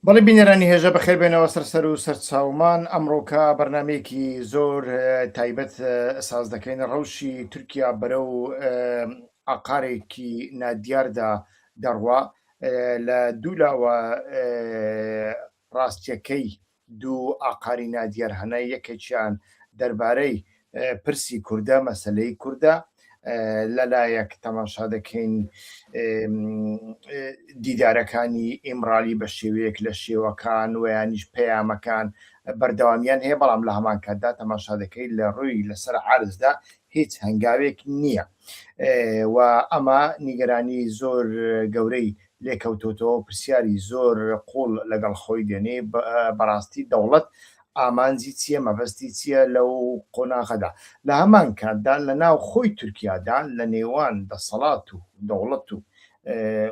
بەڵی بینەرانی هێژە بەخێر بێنەوە سەر سەر و سەر چاومان ئەمڕۆکە بەرنمەیەکی زۆر تایبەت ساز دەکەین ڕەوشی تورکیا بەرە و ئاقارێکی نادیاردا دەڕوا لە دوولاوە ڕاستیەکەی دوو ئاقاری نادیار هەنە، یەکێکیان دەربارەی پرسی کوردە، مەسەلەی کوردە، لەلایەک تەماشا دەکەین دیدارەکانی ئیمڕالی بە شێوەیەک لە شێوەکان ویانیش پەیامەکان بەردەوامیان هەیە بەڵام لە هەمان کاتدا تەماشا دەکەیت لە ڕووی لەسەر عرزدا هیچ هەنگاوێک نییە و ئەمە نیگەرانی زۆر گەورەی لێکەوتۆتەوە پرسیاری زۆر قوڵ لەگەڵ خۆی دێنێ بەڕاستی دەوڵەت ئامانجی چیە مەبەستی چیە لەو قۆناغەدا لە هەمان کاتدا لە ناو خۆی تورکیادا لە نێوان دەسەڵات و دەوڵەت و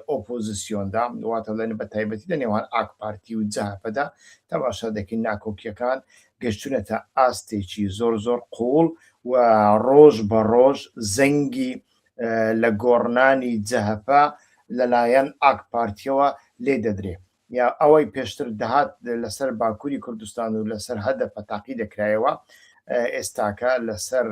ئۆپۆزسیۆندا واتە لە بە تایبەتی لە نێوان ئاک پارتی و جەهەپەدا تەماشا دەکەین ناکۆکیەکان گەشتونەتە ئاستێکی زۆر زۆر قوڵ و ڕۆژ بە ڕۆژ زەنگی لە گۆڕنانی جەهەپە لەلایەن ئاک پارتیەوە لێ دەدرێ یا ئەوەی پێشتر دەهات لەسەر باکووری کوردستان و لەسەر هەدەپە تاقی دەکرایەوە ئێستاکە لەسەر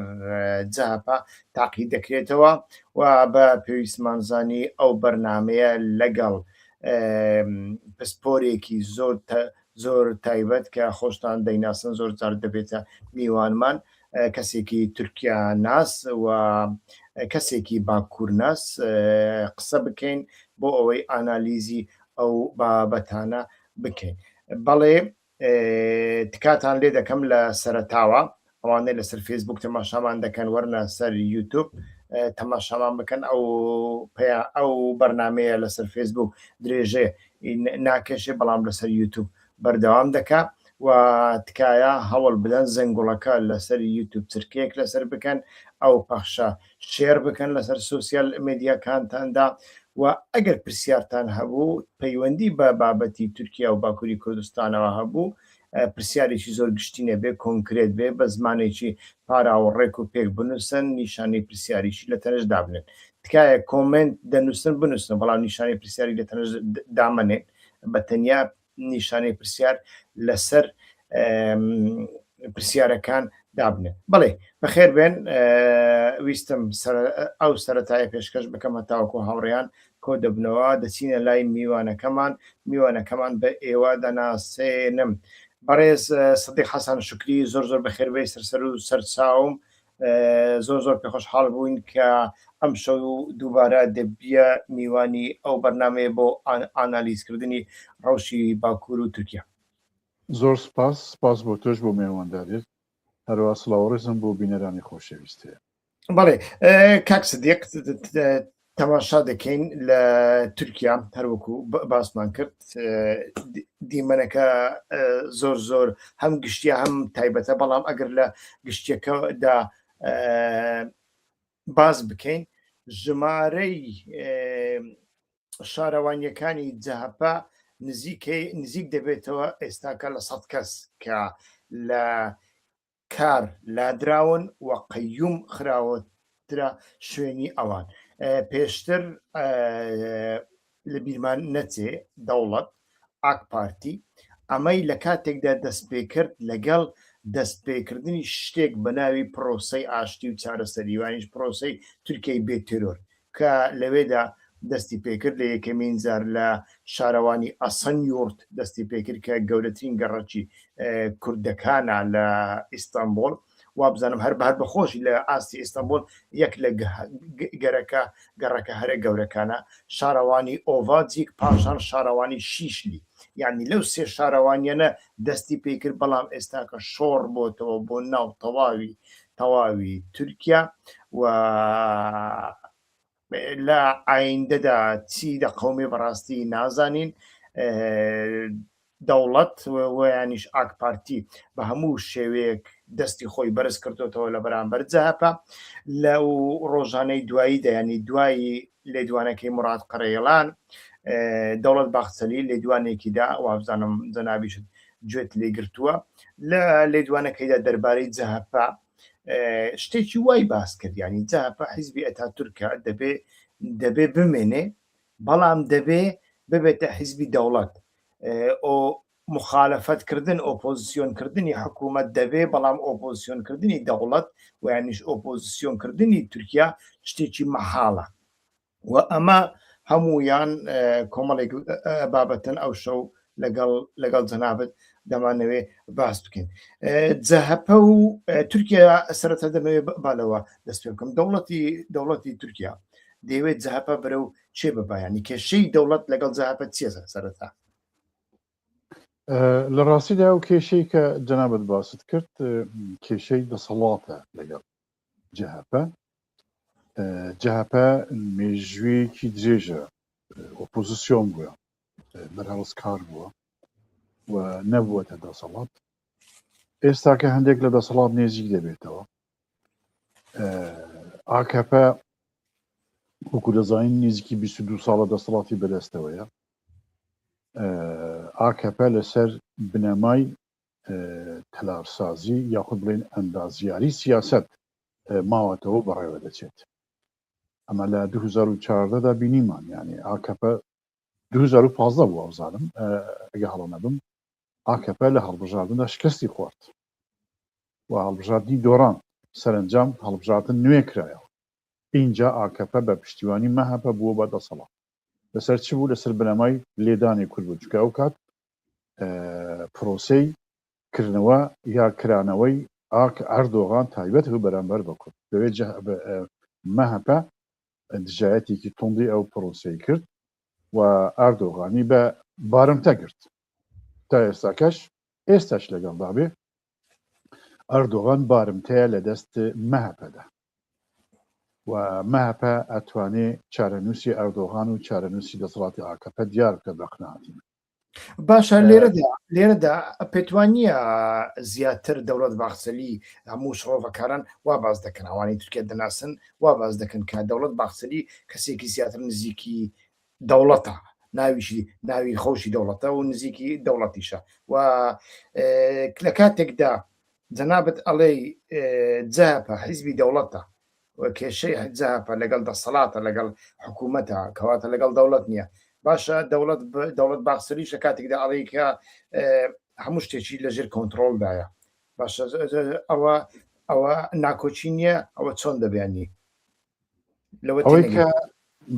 جەهەپە تاقی دەکرێتەوە و بە پێویستمانزانی ئەو بەرنمەیە لەگەڵ پسپۆرێکی زۆر زۆر تایبەت کە خۆشتان دەیناسن زۆر جار دەبێتە میوانمان کەسێکی تورکیا ناس و کەسێکی باکوور ناس قسە بکەین بۆ ئەوەی ئانالیزی ئەو بابەتانە بکەین بەڵێ تکاتان لێ دەکەم لە سەرەتاوە ئەوانەی لەسەر فەیسبووک تەماشامان دەکەن وەرنە سەر یوتوب تەماشامان بکەن ئەو پێیان ئەو بەرنمەیە لەسەر فەیسبووک درێژێ ناکێشێ بەڵام لەسەر یوتوب بەردەوام دەکا و تکایە هەوڵ بدەن زەنگوڵەکە لەسەر یوتوب چرکەیەک لەسەر بکەن ئەو پەخشە شێر بکەن لەسەر سوسیال مدیاکانتاندا و ئەگەر پرسیارتان هەبوو پەیوەندی بە بابەتی تورکیا و باکووری کوردستانەوە هەبوو پرسیارێکی زۆر گشتی نەبێ کۆنکرێت بێ بە زمانێکی پاراوە ڕێک و پێک بنووسن نیشانی پرسیاریشی لە تەنش دابنێن تکایە کۆمنت دەنووسن بنووسن بەڵام نیشانی پرسیاری لە تەنش دامەنێن بە تەنیا نیشانەی پرسیار لەسەر پرسیارەکان دابنێن بڵێ بەخێر بێن ویستم ئەو سەرەتایە پێشکەش بکەم هەتاوەکو هاوڕێیان کۆ دەبنەوە دەچینە لای میوانەکەمان میوانەکەمان بە ئێوە دەناسێنم بەڕێز سدیق حەسەن شکری زۆر زۆر بەخێربێی سەرسەر و سەرچاوم زۆر زۆر پێخۆشحاڵ بووین کە ئەم شەو دووبارە دەبیە میوانی ئەو بەرنمەیە بۆ ئانالیزکردنی ڕەوشی باکوور و تورکیا زۆر سپاس سپاس بۆ تۆش بۆ مێوانداریت هەروە سڵاوڕێزم بۆ بینەرانی خۆشەویست هەیە بەڵێ کاک سدیق تەماشا دەکەین لە تورکیا هەروەکو باسمان کرد دیمەنەکە زۆر زۆر هەم گشتیا هەم تایبەتە بەڵام ئەگەر لە گشتەکەدا باز بکەین ژمارەی شارەوانیەکانی جەهپە نزیکەی نزیک دەبێتەوە ئێستاکە لە سەد کەس کە لە کار لادراون و قەیوم خراوەترە شوێنی ئەوان پێشتر لەبیرمان نەچێ دەوڵەت ئاک پارتی ئەمەی لە کاتێکدا دەست پێکرد لەگەڵ دەست پێکردنی شتێک بە ناوی پرۆسەی ئاشتی و چارەسەریوانیش پرۆسەی تورکیای بێ تێرۆر کە لەوێدا دەستی پێکرد، لە یەکەمین جار لە شارەوانی ئەسەنیورت دەستی پێکرد کە گەورەترین گەڕەکی کوردەکانە لە ئیستەنبوڵ، وابزانم هەر بە هەر بە خۆشی لە ئاستی ئیستەنبوڵ یەک لە گەرەکە گەڕەکە هەرە گەورەکانە، شارەوانی ئۆڤاجیک پاشان شارەوانی شیشلی، یانی لەو سێ شارەوانییانە دەستی پێکرد، بەڵام ئێستاکە شۆڕ بۆتەوە بۆ ناو تەواوی تەواوی تورکیا و لە ئایندەدا چی دەقەومێ بەڕاستی نازانین دەوڵەت ویانیش ئاک پارتی بە هەموو شێوەیەک دەستی خۆی بەرز کردوتەوە لە بەرامبەر جەهپە لە و ڕۆژانەی دوایی دەیانی دوایی لێدوانەکەی مراد قڕێڵان دەوڵەت باخچەلی لێدوانێکیدا وابزانم جەنابیشت گوێت لێ گرتووە لە لێدوانەکەیدا دەربارەی جەهەپە شتێکی وای باس کرد ینی جەهەپە حیزبی ئەتا تورکە دەبێ دەبێ بمێنێ بەڵام دەبێ ببێتە حیزبی دەوڵەت ئۆ مخالەفەتکردن ئۆپۆزیسیۆنکردنی حکوومەت دەبێ بەڵام ئۆپۆزیسیۆنکردنی دەوڵەت ویانش ئۆپۆزیسیۆنکردنی تورکیا شتێکی مەحاڵە و ئەمە هەموویان کۆمەڵێک بابەتن ئەو شەو لەگەڵ لەگەڵ جەنابت دەمانەوێ باس بکەین جەهەپە و تورکیا سەرەتا دەمەوێ بالەوە دەست پێ بکەم دەوڵەتی دەوڵەتی تورکیا دەیەوێت جەهەپە بەرە و چێ بەبایانی کێشەی دەوڵەت لەگەڵ جەهەپە چیە سەرەتا لە ڕاستیدا و کێشەی کە جەنابەت باست کرد کێشەی دەسەڵاتە لەگەڵ جەهەپە جەهەپە مێژوویەکی درێژە ئۆپۆزیسیۆن بووە بەرهەڵس کار بووە و نەبووەتە دەسەڵات ئێستاکە هەندێک لە دەسەڵات نێزیک دەبێتەوە ئاکەپە وەکو دەزانین نزیکی 22 ساڵە دەسەڵاتی بەدەستەوەیە ئاکەپە لەسەر بنەمای تەلارسازی یاخود بڵێن ئەندازیاری سیاسەت ماوەتەوە بەڕێوە دەچێت ئەمە لە 2014 دا بینیمان یانێ ئاکەپە 2015 بوو ئەوزانم ئەگە هەڵە نەبم ئاکەپە لە هەڵبژاردندا شکستی خوارد و هەڵبژاردنی دۆڕان سەرنجام هەڵبژاردن نوێ کرایەوە اینجا ئاکەپە بە پشتیوانی مەهەپە بووە بە دەسەڵات لەسەر چ بوو لەسەر بنەمای لێدانێ کورد بوو چکە ئەو کات پرۆسەی کردنەوە یا کرانەوەی ئاک ئەردۆغان تایبەت بوو بەرامبەر بە کورد، لەوێ مەهەپە دژایەتێکی توندی ئەو پرۆسەی کرد و ئەردۆغانی بە بارمتە گرت. تا ئێستاکەش ئێستاش لەگەڵدابێ ئەردۆغان بارمتەیە لە دەست مەهەپەدا و مەهەپە ئەتوانێ چارەنووسی ئەردۆغان و چارەنووسی دەسەڵاتی ئاکەپە دیار بکە بە قناعەتی من باشە لێرەدا لێرەدا پێتوانە زیاتر دەوڵەت باخسەلی هەموو شڕۆڤەکاران وا باز دەکەن ئەوانی تورکێت دەناسن وا باز دەکەن کە دەوڵەت باخسەلی کەسێکی زیاتر نزیکی دەوڵەتە ناویشی ناوی خۆشی دەوڵەتە و نزیکی دەوڵەتیشە و لە کاتێکدا جەنابەت ئەڵێ جەهەپە حیزبی دەوڵەتە کێشەی حجاپە لەگەڵ دەسەڵاتە لەگەڵ حکوومەتە کەواتە لەگەڵ دەوڵەت نییە باشە دەوڵەت دەوڵەت باخسەریش لە کاتێکدا ئەڵیکە هەموو شتێکی لەژێر کۆنتترۆلدایە باشە ئەوە ئەوە ناکۆچی نییە ئەوە چۆن دەبیانی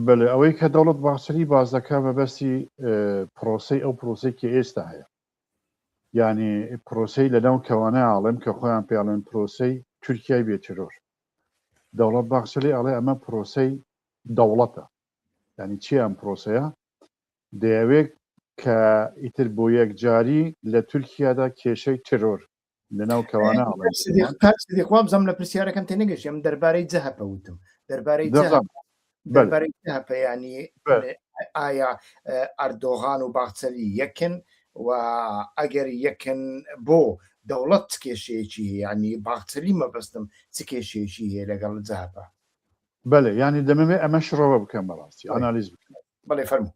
بەێ ئەوەی کە دەوڵەت باسری باز دەکە بەبەستی پرۆسی ئەو پرۆسی کە ئێستا هەیە ینی پرۆسی لە ناو کەوانە ئاڵم کە خۆیان پێڵێن پرۆسی تورکای بێترۆر دەوڵەت باخسلی ئەڵێ ئەمە پرۆسی دەوڵەتە ینی چی ئەم پرۆسەیە دەیەوێت کە ئیتر بۆ یەکجاری لە تورکیادا کێشەی ترۆر لەناو کەوانە خۆم زەم لە پرسیارەکەم تێ نگەشتم دەربارەی جەهپە وتم دەربارەی دەربارەی جەهپەیانی ئایا ئەردۆغان و باخچەلی یەکن و ئەگەر یەکن بۆ دەوڵەت کێشەیەکی ینی باخچەلی مەبەستم چ کێشەیەکی هەیە لەگەڵ جەهپە بەێ ینی دەمەوێت ئەمە شڕەوە بکەم بەڕاستی ئەنالیز بکەم بەڵێ فەرمو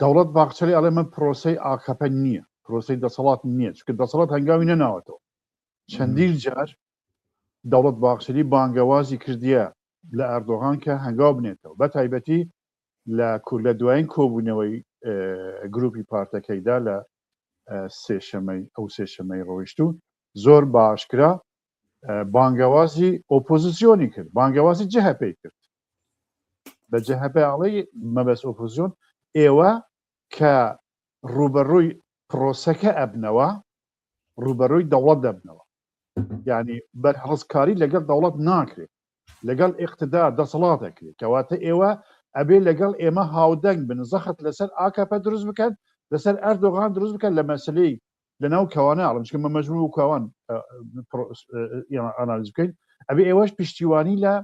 دەوڵەت باخچەلی ئەڵێ من پرۆسەی ئاکەپە نییە پرۆسی دەسەڵات نییە چکە دەسەڵات هەنگاوی نەناوەتەوە چەندین جار دەوڵەت باخچەلی بانگەوازی کردیە لە ئەردۆغان کە هەنگاو بنێتەوە بە تایبەتی لە کورد لە دوایین کۆبوونەوەی گروپی پارتەکەیدا لە سێشەمەی ئەو سێشەمەی ڕۆیشت و زۆر باشکرا بانگەوازی ئۆپۆزیسیۆنی کرد بانگەوازی جهپی کرد بە جهپڵی مەبەست ئۆپۆزیۆن ئێوە کە ڕوبەڕووی پرۆسەکە ئەبنەوە ڕوبەرۆی دەوڵەت دەبنەوە ینی بەرهڵستکاری لەگەڵ دەوڵەت ناکرێت لەگەڵ ئقتدا دەسەڵات دەکرێت کەواتە ئێوە ئەبێ لەگەڵ ئێمە هاودەنگ بن زەخت لەسەر ئاکەپە دروست بکەن لەسەر ئەردۆغان دروست بکەن لە مەسلەی لەناو کاوانە ئەڵێم چکە مە مەجموع و کاوان ئانالیز بکەین ئەبێ ئێوەش پشتیوانی لە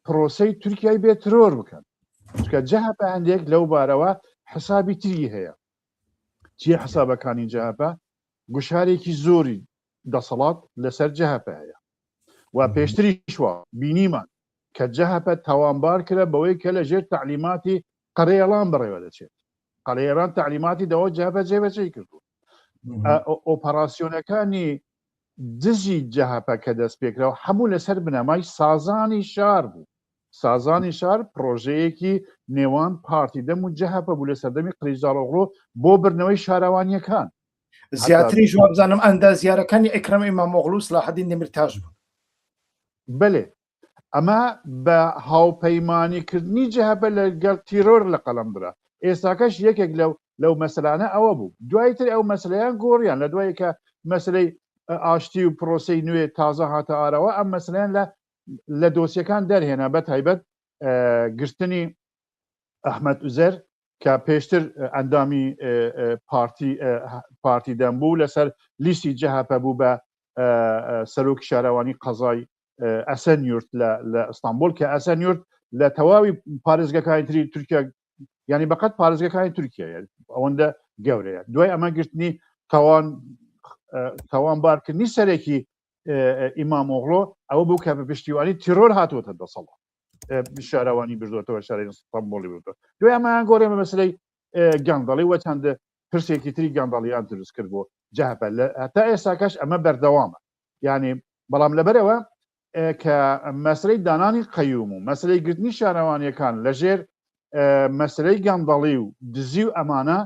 پرۆسی تورکیای بێ ترۆر بکەن چکە جەهپە هەندێک لەو بارەوە حسابی تری هەیە چیە حسابەکانی جەهپە گوشارێکی زۆری دەسەڵات لەسەر جەهپە هەیە و پێشتریشوە بینیمان کە جەهپە تاوانبار کرە بەوەی کە لە ژێر تعلیماتی قەرەێڵان بەڕێوە دەچێت قەرەێران تعلیماتی دەوە جەبە جێبەجێ کردووە ئۆپەراسسیۆنەکانی دژی جەهپە کە دەست پێکراوە هەموو لەسەر بنەمای سازانی شار بوو سازانی شار پرۆژەیەکی نێوان پارتی دەم و جەهپە بوو لە سەردەمی قریزاڵۆغۆ بۆ بردنەوەی شارەوانیەکان زیاتری جوابزانم ئەندازیارەکانی ئەکرم ئیمامۆغلوس لە حدی نمرتاش بوون بەێ ئەمە بە هاوپەیمانی کردنی جەهەپە لە گەڵ تیرۆر لە قەڵەم درا ئێستاکەش یەکێک لەو لەو مەسەلانە ئەوە بوو دوای تر ئەو مەسلیان گۆڕیان لە دوای کە مەسلەی ئاشتی و پرۆسی نوێ تازە هاتە ئارەوە ئەم مەسلیان لە لە دۆسیەکان دەرهێنا بە تایبەت گرتنی ئەحمد ئوزەر کە پێشتر ئەندامی پارتی پارتی دەم بوو لەسەر لیستی جەهپە بوو بە سەرۆکی شارەوانی قەزای ئەسەن یورت لە ئەستانبول کە ئەسەن یورت لە تەواوی پارێزگەکانی تری تورکیا ینی بەقەت پارێزگەکانی تورکیا ئەوەندە گەورەیە دوای ئەمە گرتنی تاوان تاوان بارکردنی سەرێکی ئیمام ئۆغڵۆ ئەوە بوو کە بە پشتیوانی تیرۆر هاتووەتە دەسەڵا شارەوانی بردوێتەوە شاری سەمبۆڵی بوو دوای ئەمایان گۆڕێ بە مەسلەی گەندەڵی وە چەندە پرسێکی تری گەندەڵیان دروست کرد بۆ جاپە لە هەتا ئێستاکەش ئەمە بەردەوامە یعنی بەڵام لەبەرەوە کە مەسلەی دانانی قەیوم و مەسلەی گرتنی شارەوانیەکان لەژێر مەسلەی گەندەڵی و دزی و ئەمانە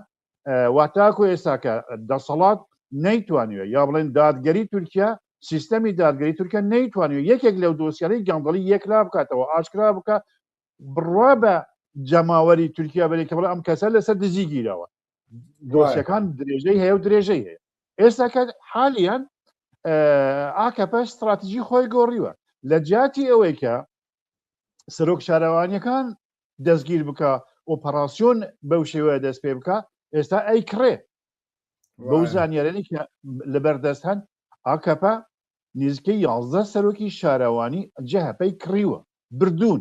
واتاکو ئێساکە دەسەڵات نەیتوانیوە یا بڵێن دادگەری تورکیا سیستەمی دادگەری تورکیا نەیتوانیوە یەکێک لەو دۆسیانەی گەندەڵی یەکلا بکاتەوە ئاشکرا بکە بڕوا بە جەماوەری تورکیا بەێکەوە ئەم کەسە لەسەر دزی گیرەوە دۆسیەکان درێژەی هەیە و درێژەی هەیە ئێستا کە حالیان ئاکەپە استراتیژی خۆی گۆڕیوە لە جیاتی ئەوەی کە سەرۆک شارەوانیەکان دەستگیر بکە ئۆپەراسسیۆن بەو شێوە دەست پێ بکە ئێستا ئەی کڕێ بەو زانیارێنی کە لەبەردەست هەن ئاکەپە نزیکەی یازدە سەرۆکی شارەوانی جەهپەی کڕیوە بردوون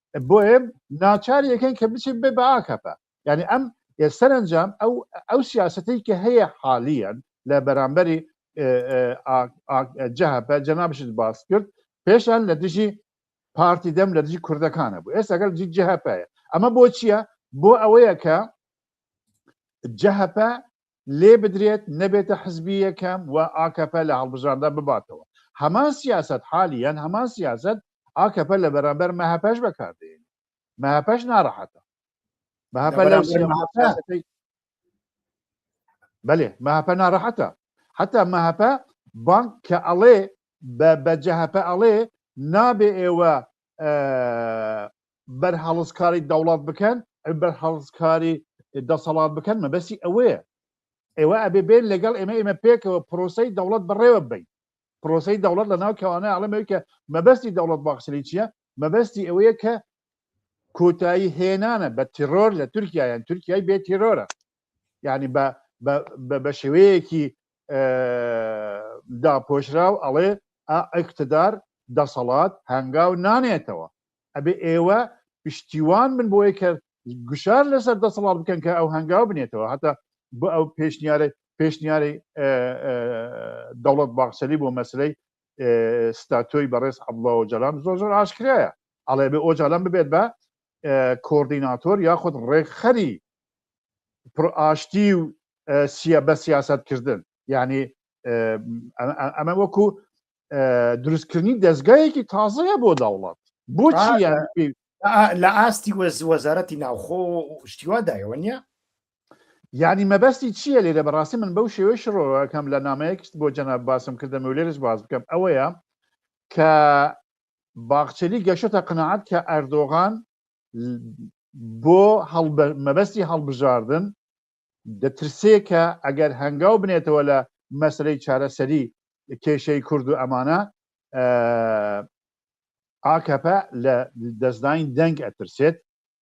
بۆیە ناچار یەکەن کە بچێت بێ بە ئاکەپە یعنی ئەم سەرنجام ئەو ئەو سیاستەی کە هەیە حالیان لە بەرامبەری جەهپە جەنابشت باس کرد پێشان لە دژی پارتی دەم لە دژی کوردەکانە بوو ئێستا گەل جی جەهپەیە ئەمە بۆ چییە بۆ ئەوەیە کە جەهپە لێ بدرێت نەبێتە حزبی یەکەم و ئاکەپە لە هەڵبژاردە بباتەوە هەمان سیاسەت حالیەن هەمان سیاسەت ئاکەپە لە بەرامبەر مەهەپەش بەکار دێنێت مەهەپەش ناڕەحەتە مەهەپە لەو سیاسەتەی بەێ مەهەپە ناڕەحەتە حتا مەهەپە بانک کە ئەڵێ بە جەهەپە ئەڵێ نابێ ئێوە بەرهەڵستکاری دەوڵات بکەن بەرهەڵستکاری دەسەڵات بکەن مەبەستی ئەوەیە ئێوە ئەبێ بێن لەگەڵ ئێمە ئێمە پێکەوە پرۆسی دەوڵەت بەڕێوە بین پرۆسی دەوڵەت لە ناو کەوانە ئاڵەمەوەی کە مەبەستی دەوڵەت باخسری چییە مەبەستی ئەوەیە کە کۆتایی هێنانە بە تیرۆر لە تورکایان تورکای بێ تیرۆرە یعنی بە شێوەیەکی داپۆشراو ئەڵێ ئەکتدار دەسەڵات هەنگاو نانێتەوە ئەبێ ئێوە پشتیوان من بۆی کە گوشار لەسەر دەسەڵات بکەن کە ئەو هەنگاو بنێتەوە هەتا بۆ ئەو پێشنیارە پێشنیاری دەوڵەت باخسەری بۆ مەسلەی ستاتۆی بەڕێز عبڵەوە جەلام زۆر زۆر ئاشکرایە ئەڵێ بێ ئۆجالان ببێت بە کۆردیناتۆر یاخود ڕێکخەری پرئاشتی و سیە بە سیاست کردن یعنی ئەمە وەکو دروستکردنی دەستگایەکی تازەیە بۆ دەوڵات بۆچی لە ئاستی وەز وەزارەتی ناوخۆ شتیوادایەوە نیە یعنی مەبەستی چییە لێرە بەڕاستی من بەو شێوەی شڕۆەکەم لە نامەیەکشت بۆ جەناب باسم کردم و لێرش باز بکەم ئەوەیە کە باخچەلی گەشتە قەناعەت کە ئەردۆغان بۆ مەبەستی هەڵبژاردن دەترسێ کە ئەگەر هەنگاو بنێتەوە لە مەسلەی چارەسەری کێشەی کورد و ئەمانە ئاکەپە لە دەستداین دەنگ ئەترسێت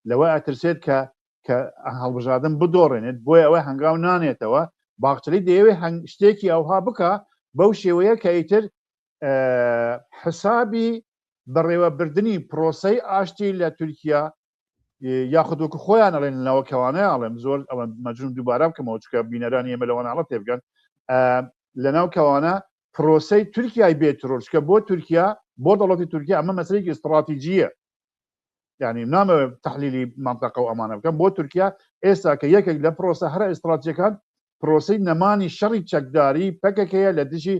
لەوە ئەترسێت کە کە هەڵبژادن بدۆڕێنێت بۆی ئەوە هەنگاو نانێتەوە باخچلی دەیەوێ هەنگ شتێکی ئەوها بکە بەو شێوەیە کە ئیتر حسابی بەڕێوەبردنی پرۆسەی ئاشتی لە تورکیا یاخود وەکو خۆیان ئەڵێن لەناوە کەوانەیە ئەڵێم زۆر ئەوە مەجون دووبارە بکەمەوە چکە بینەرانی ئێمە لەوانناڵە تێبگەن لەناو کەوانە پرۆسی تورکای بێت ڕۆژکە بۆ تورکیا بۆ دەڵەتی تورکیا ئەمە مەسلێکی استراتیجیە یعنی نامەوێ تحلیلی مەنتەقە و ئەمانە بکەم بۆ تورکیا ئێستا کە یەکێک لە پرۆسە هەرە ئیستراتیەکان پرۆسی نەمانی شەڕی چەکداری پەکەکەیە لە دژی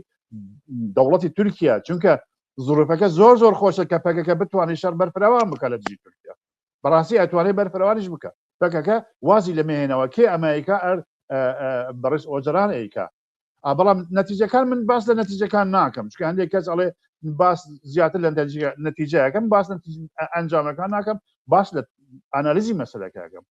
دەوڵەتی تورکیا چونکە زروفەکە زۆر زۆر خۆشە کە پەکەکە بتوانێت شەر بەرفراوان بکە لە دژی تورکیا بەڕاستی ئەتوانێت بەرفراوانیش بکە پەکەکە وازی لە مێنەوە کێ ئەمریکا ئەر بەڕێز ئۆجران ئەیکا بەڵام نەتیجەکان من باس لە نەتیجەکان ناکەم چکە هەندێک کەس ئەڵێ باس زیاتر لە نەتیجەکەم باس ئەنجامەکان ناکەم باس لە ئەنالیزی مەسلەکەکەم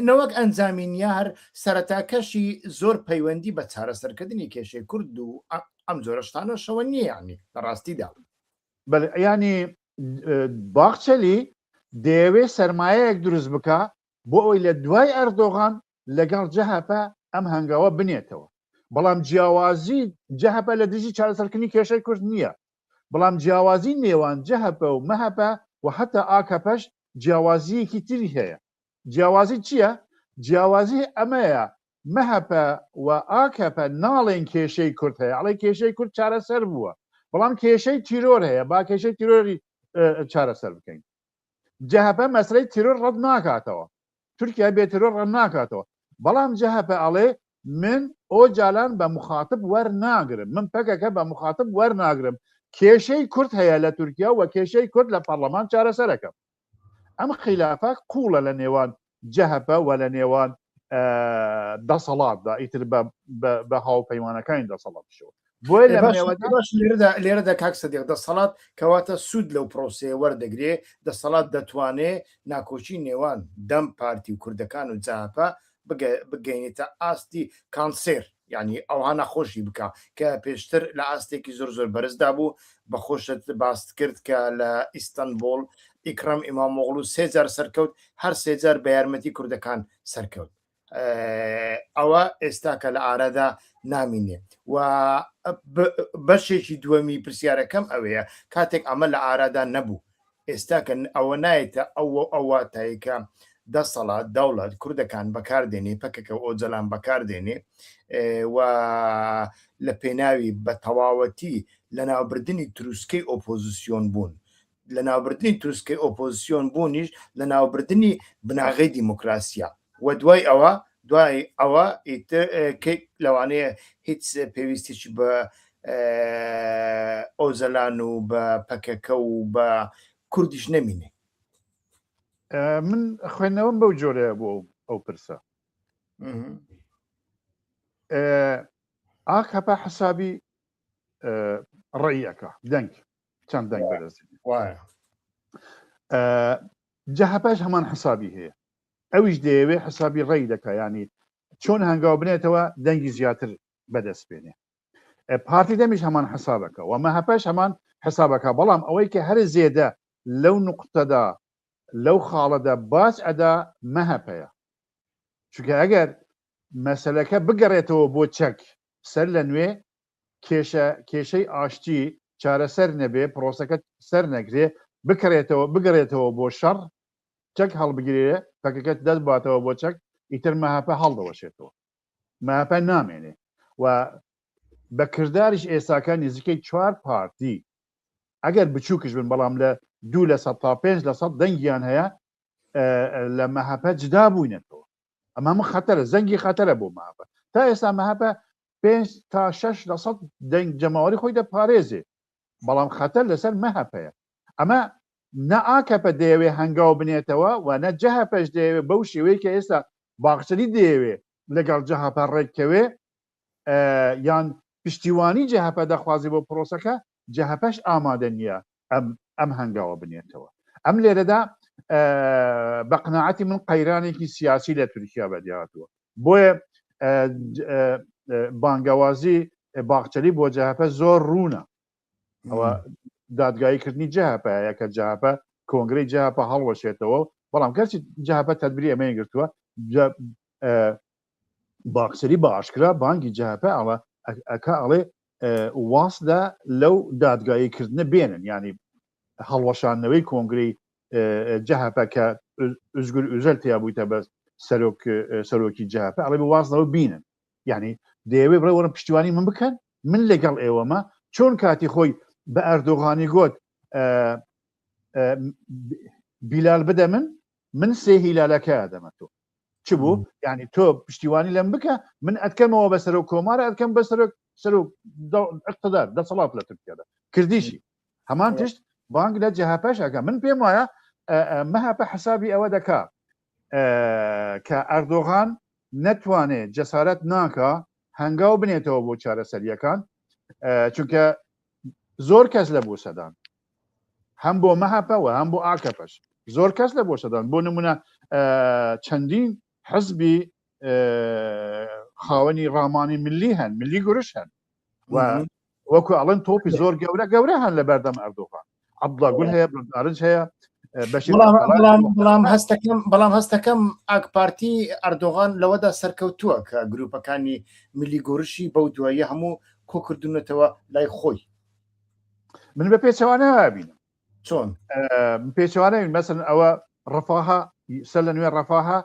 نەوەک ئەنجامین یا هەر سەرەتاکەشی زۆر پەیوەندی بە چارەسەرکردنی کێشەی کورد و ئەم جۆرەشتانەشەوە نییەنی لە ڕاستیدا ینی باخچەلی دەیەوێ سرمایەک دروست بکە بۆ ئەوی لە دوای ئەردۆغان لەگەڵ جەهەپە ئەم هەنگاوە بنێتەوە بەڵام جیاوازی جەهەپە لە دژی چارەسەرکردنی کێشەی کورد نییە بەڵام جیاوازی نێوان جەهەپە و مەهەپە و هەتا ئاکەپەش جیاوازیەکی تری هەیە جیاوازی چییە؟ جیاوازی ئەمەیە مەهەپە و ئاکەپە ناڵێن کێشەی کورد هەیە ئەڵێ کێشەی کورد چارەسەر بووە بەڵام کێشەی تیرۆر هەیە با کێشەی تیرۆری چارەسەر بکەین جەهەپە مەسەلەی تیرۆر ڕەت ناکاتەوە تورکیا بێ تیرۆر ڕەت ناکاتەوە بەڵام جەهەپە ئەڵێ من ئۆجالان بە مخاتب وەرناگرم من پەکەکە بە مخاتب وەرناگرم کێشەی کورد هەیە لە تورکیا و کێشەی کورد لە پەرلەمان چارەسەرەکەم ئەم خیلافە قوڵە لە نێوان جەهەپە وە لە نێوان دەسەڵاتدا ئیتر بە هاوپەیمانەکانی دەسەڵاتشەوە لێرەدا کاک سەدیق دەسەڵات کەواتە سوود لەو پرۆسەیە وەردەگرێ دەسەڵات دەتوانێ ناکۆکی نێوان دەم پارتی و کوردەکان و جاپە بگەینێتە ئاستی کانسێر یانی ئەوها نەخۆشی بکە کە پێشتر لە ئاستێکی زۆر زۆر بەرزدا بوو بە خۆشت باست کرد کە لە ئیستەنبوڵ ئیکڕەم ئیمامۆغڵو سێ جار سەرکەوت هەر سێ جار بە یارمەتی کوردەکان سەرکەوت ئەوە ئێستا کە لە ئارادا نامینێ و بەشێکی دووەمی پرسیارەکەم ئەوەیە کاتێک ئەمە لە ئارادا نەبوو ئێستا کە ئەوە نایەتە ئەو ئەو واتای کە دەسەڵات، دەوڵەت، کوردەکان بەکار دێنێ، پەکەکە و ئۆجەلان بەکار دێنێ و لە پێناوی بە تەواوەتی لە ناوبردنی تروسکەی ئۆپۆزیسیۆن بوون، لە ناوبردنی تروسکەی ئۆپۆزیسیۆن بوونیش لە ناوبردنی بناغەی دیموکراسیە. وە دوای ئەوە دوای ئەوە ئیتر کەی لەوانەیە هیچ پێویستیی بە ئۆجەلان و بە پەکەکە و بە کوردیش نەمینێ من خوێندنەوەم بەو جۆرەیە بۆ ئەو پرسە ئاک هەپا حسابی ڕێیەکە دەنگ چەند دەنگ بەرز جەهپش هەمان حسابی هەیە ئەویش دەیەوێ حسابی ڕەئی دەکا یانی چۆن هەنگاو بنێتەوە دەنگی زیاتر بەدەست بێنێ پارتی دەمیش هەمان حسابەکە و مەهەپەش هەمان حسابەکە بەڵام ئەوەی کە هەر زێدە لەو نقطەدا لەو خاڵەدا باج ئەدا مەهەپەیە چونکە ئەگەر مەسلەکە بگەڕێتەوە بۆ چەک سەر لە نوێ کێشە کێشەی ئاشتی چارەسەر نەبێ پرۆسەکە سەر نەگرێ بکرێتەوە بگەڕێتەوە بۆ شەڕ چەک هەڵبگرێ پەکەکەت دەست باتەوە بۆ چەک ئیتر مەهپە هەڵدەوەشێتەوە مەهپە نامێنێ و بە کردداریش ئێساکان نزیکەی چوار پارتی ئەگەر بچووکش بن بەڵام لە دوو لە سە تا پێنج لە سەد دەنگیان هەیە لە مەهپە جدا بووینەتەوە ئەمە من خەتەرە زەنگی خەتەرە بۆ ماپە تا ئێستا مەهپە پێنج تا شەش لە سەد دەنگ جەماوەری خۆی دەپارێزێ بەڵام خەتەر لەسەر مەهەپەیە ئەمە نە ئاکەپە دەیەوێ هەنگاو بنێتەوە و نە جەهەپەش دەیەوێ بەو شێوەیە کە ئێستا باخچەلی دەیەوێ لەگەڵ جەهەپە ڕێککەوێ یان پشتیوانی جەهەپە دەخوازی بۆ پرۆسەکە جەهەپەش ئامادە نیە ئەم ئەم هەنگاوە بنێتەوە ئەم لێرەدا بە قناعەتی من قەیرانێکی سیاسی لە تورکیا بەدیهاتوە بۆیە بانگەوازی باخچەلی بۆ جەهەپە زۆر ڕوونە ئەوە دادگایی کردنی جەهەپە یەکە جەهەپە کۆنگری جەهەپە هەڵوەشێتەوە بەڵام گەرچی جەهەپە تەدبری ئەمەی گرتووە باخچەلی بە ئاشکرا بانگی جەهەپە ئەڵە ئەکا ئەڵێ واسدا لەو دادگایی کردنە بێنن ینی هەڵوەشاندنەوەی کۆنگری جەهەپە کە ئزگور ئوزەل تیا بوویتە بەس سەرۆک سەرۆکی جەهەپە ئەڵێ وازنەوە بینن ینی دەیەوێ بڕێ وەرە پشتیوانی من بکەن من لەگەڵ ئێوەمە چۆن کاتی خۆی بە ئەردۆغانی گوت بیلال بدە من من سێ هیلالەکە دەمە تۆ چ بوو یعنی تۆ پشتیوانی لەم بکە من ئەتکەمەوە بە سەرۆک کۆمار ئەتکەم بە سەرۆک سەرۆک اقتدار دەسەڵات لە تورکیادا کردیشی هەمان تشت بانگ لە جهپش ئەەکە من پێم وایە مەهپە حسابی ئەوە دەکا کە ئەردۆغان نەتوانێ جەسارەت ناکە هەنگاو بنێتەوە بۆ چارەسەریەکان چونکە زۆر کەس لە بۆ سەدان هەم بۆ مەهەپە و هەم بۆ ئاکەپەش زۆر کەس لە بۆشەدان بۆ نمونە چەندین حزبی خاوەنی ڕامانی ملی هەن ملی گورش هەن وەکو ئەڵەن تۆپی زۆر گەورە گەورە هەن لە بەردەم ئەردۆغان عبدڵاگول هەیە بردارج هەیە بەڵام هەستەکەم بەڵام هەستەکەم ئاک پارتی ئەردۆغان لەوەدا سەرکەوتووە کە گروپەکانی ملی گۆرشی بەو دواییە هەموو کۆکردونەتەوە لای خۆی من بە پێچەوانە بین چۆن پێچوانە مەسن ئەوە ڕفاها سە لە نوێ ڕفاها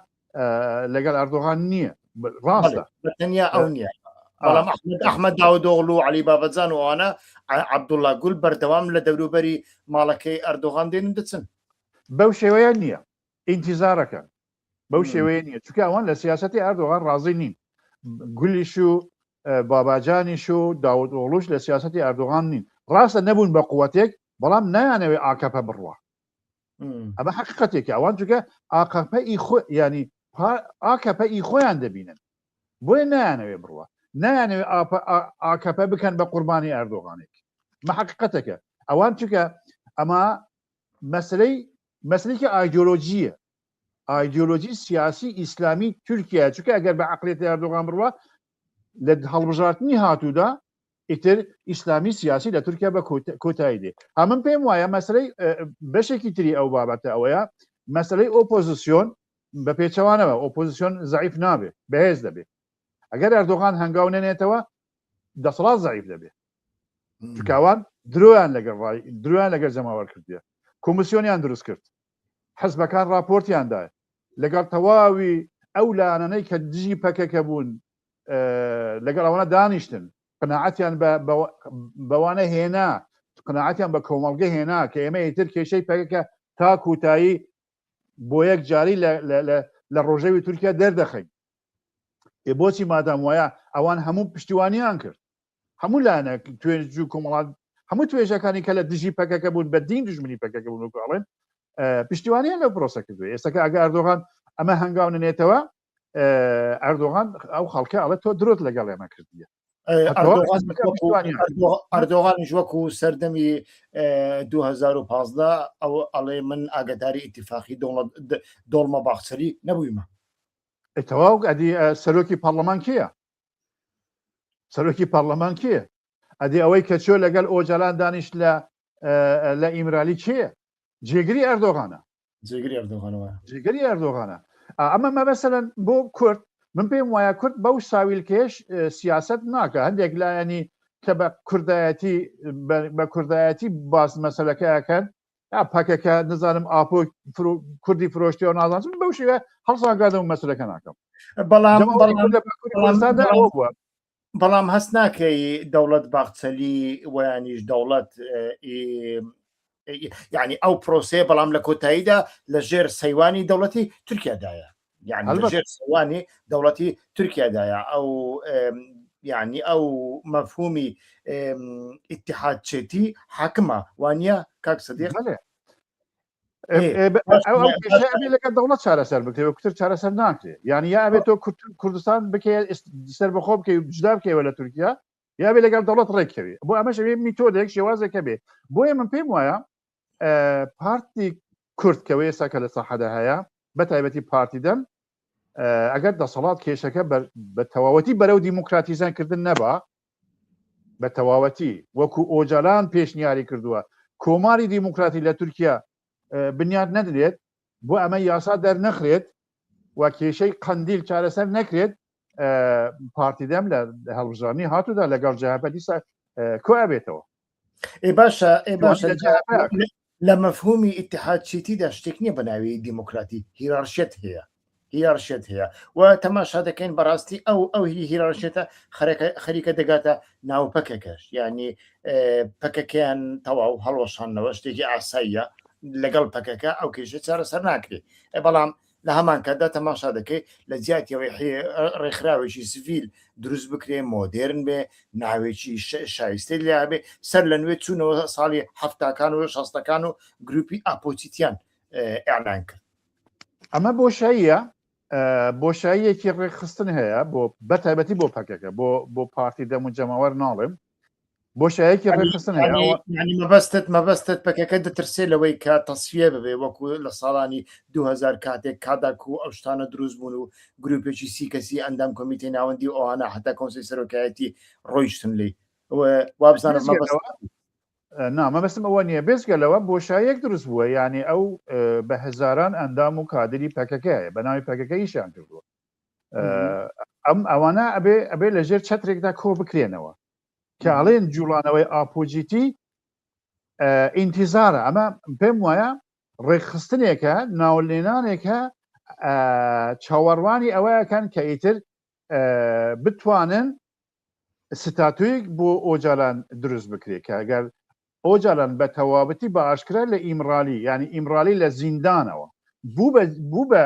لەگەڵ ئەردۆغان نییە ڕاستە تەنیا ئەو نییە بەڵام ئەحمد داودۆغڵ و علی بابەزان وانە عبدوڵا گول بەردەوام لە دەوروبەری ماڵەکەی ئەردۆغان دێن دەچن بەو شێوەیە نییە ئینتیزارەکە بەو شێوەیە نیە چکە ئەوان لە سیاستی ئەردۆغان ڕازی نین گولیش و باباجانیش و داود ئۆڵوش لە سیاستی ئەردۆغان نین ڕاستە نەبوون بە قووەتێک بەڵام نایانەوێ ئاکەپە بڕوە ئەمە حقیقەتێکی ئەوان چگە ئاقەپە ئی خۆ ینی ئاکەپە ئی خۆیان دەبینن بۆیە نایانەوێ بڕوە نایانەوێ ئاکەپە بکەن بە قوربانی ئەردۆغانێک مە حقیقەتەکە ئەوان چکە ئەمە مەسلەی مەسلێکی ئایدۆلۆژیە ئایدیۆلۆجی سیاسی ئیسلامی تورکیا چکە گەر بە عقلێتی ئەردۆغان بڕوە لە هەڵبژارتنی هاتوودا ئیتر ئیسلامی سیاسی لە تورکیا بە کۆتایی دێ هەمن پێم وایە مەسلەی بەشێکی تری ئەو بابەتە ئەوەیە مەسلەی ئۆپۆزیسیۆن بە پێچەوانەوە ئۆپۆزیسیۆن زعیف نابێت بەهێز دەبێت ئەگەر ئەردۆغان هەنگاو نەنێتەوە دەسەڵات زعیف دەبێت تکاوان درۆیان لەگەڵ ڕای درۆیان لەگەر جەماوەر کردێ کۆمسیۆنیان دروست کرد حزبەکان راپۆرتیان دا لەگەڵ تەواوی ئەو لایەنانەی کە دژی پەکەکە بوون لەگەڵ ئەوانە دانیشتن قەناعەتیان بەوانە هێنا قەناعەتیان بە کۆمەڵگە هێنا کە ئێمە ئیتر کێشەی پەکەکە تا کوتایی بۆ یەک جاری لە ڕۆژەوی تورکیا دەردەخەین بۆچی مادام وایە ئەوان هەموو پشتیوانیان کرد هەموو لایەنە توێژ و کۆمەڵات هەموو توێژەکانی کە لە دژی پەکەکە بوون بە دین دژمنی پەکەکە بوون وکڵێن پشتیوانیان لە پرۆسە کردو ئێستاکە ئەگە ئەردۆغان ئەمە هەنگاو نێتەوە ئەردۆغان ئەو خەڵکە ئەڵە تۆ درۆت لەگەڵ ئێمە کردیە ئەردۆغانیش وەکو سەردەمی 2015 ئەو ئەڵێ من ئاگداری ئیتفاقی دەوڵەت دۆڵمە باخچەری نەبوویمە تەواو ئەدی سەرۆکی پەرلەمان کیە سەرۆکی پەرلەمان کێ ئەدی ئەوەی کە چۆ لەگەل ئۆجالان دانیش لە لە ئیمرالی کێ جێگری ئەردۆغانە جێگری ئەردۆغانەوە جێگری ئەردۆغانە ئەمە مەبەسەن بۆ کورد من پێم وایە کورد بەو ساویلکەش سیاست ناکە هەندێک لایەنی کە بە کوردایەتی بە کوردایەتی باس مەسلەکەیەکەن پاکەکە نزانم ئاپۆ کوردی فرۆشتەوە نازانم بەو شێوە هەڵسانگادەم مەسرەکە ناکەم بەڵام بەڵام هەست ناکەی دەوڵەت باخچەلی ویانیش دەوڵەت یعنی ئەو پرۆسەیە بەڵام لە کۆتاییدا لە ژێر سەیوانی دەوڵەتی تورکیادایە یعنی هەڵبەت. لەژێر سەوانی دەوڵەتی تورکیادایە ئەو ئم، یعنی ئەو مەفهومی ئم، ئیتحادچێتی حاکمە وانە کاک سدیق بەێ ئێ، ئێ، بە- باش، ئەو ئەو باش. کێشە ئەبێ لەگەڵ دەوڵەت چارەسەر بکرێ وکتر چارەسەر ناکرێ یعنی یا ئەبێت تۆ کورد- کوردستان بکەی ئیس- سەر بەخۆ بکەی و جدا بکەیەوە لە تورکیا یا بێ لەگەڵ دەوڵەت ڕێککەوێ بۆ ئەمەش ئەوێ میتۆدێک شێوازێکە بێ بۆیە من پێم وایە پارتی کورد کەەوە ئێستا کە لە ساحەدا هەیە بە تایبەتی پارتی دەم ئەگەر دەسەڵات کێشەکە بە تەواوەتی بەرەو دیموکراتیزان کردن نەبا بە تەواوەتی وەکو ئۆجالان پێشنیاری کردووە کۆماری دیموکراتی لە تورکیا بنیاد نەدرێت بۆ ئەمە یاسا دەرنەخرێت و کێشەی قندیل چارەسەر نەکرێت پارتی دەم لە هەڵبژانی هاتوودا لەگەڵ جهپە دیسا کۆ ئەبێتەوە ئێ باشە ئێ باشە لە مەفهومی ئتحاد چیتیدا شتێک نییە بەناوی دیموکراتی هیرارشێت هەیە هیرارشێت هەیە و تەماشا دەکەین بەڕاستی ئەو ئەو هیرارشێتە خەریکە دەگاتە ناو پەکەکەش ینی پەکەکەیان تەواو هەڵۆشانەوە شتێکی ئاساییە لەگەڵ پەکەکە ئەو کێشە چارەسەر ناکرێت بەڵام لە هەمان کاتدا تەماشا دەکەیت لە جیاتیەوەی ڕێکخراوێکی سڤیل دروست بکرێ مۆدررن بێ ناوێکی شایستەی لابێ سەر لە نوێ چوونەوە ساڵی هەفتاکان و شەستەکان و گروپی ئاپۆچیتیان ئەلان کرد ئەمە بۆشاییە بۆشاییەکی ڕێکخستن هەیە بۆ بە تایبەتی بۆ پەکەکە بۆ بۆ پارتی دەم و جەماوەر ناڵێم بۆشایەکی ڕێخستن مەبەستت مەبەستت پەکەکە دەترسێ لەوەی کە تەسفە ببێ وەکو لە ساڵانی 2000 کاتێک کاداک و ئەو شتانە دروست بوون و گروپێکی سی کەسی ئەندام کۆمیتی ناوەندی ئەوانە حتا کۆنسی سەرۆکایەتی ڕۆیشتن لی وابزانم مەبەست نا مەبەستم ئەوە نییە، بێجگە لەوە بۆشاییەک دروست بووە، یانێ ئەو بە هەزاران ئەندام و کادری پەکەکە هەیە، بە ناوی پەکەکە ئیشیان کردووە. ئەم ئەوانە ئەبێ ئەبێ لە ژێر چەترێکدا کۆ بکرێنەوە کە ئەڵێن جوڵانەوەی ئاپۆجیتی ئینتیزارە ئەمە پێم وایە ڕێکخستنێکە ناولێنانێکە چاوەڕوانی ئەوەیەکەن کە ئیتر بتوانن ستاتۆیک بۆ ئۆجالان دروست بکرێت کە ئەگەر ئۆجالان بە تەوابەتی بە ئاشکرا لە ئیمرالی ینی ئیمرالی لە زیندانەوە بوو بە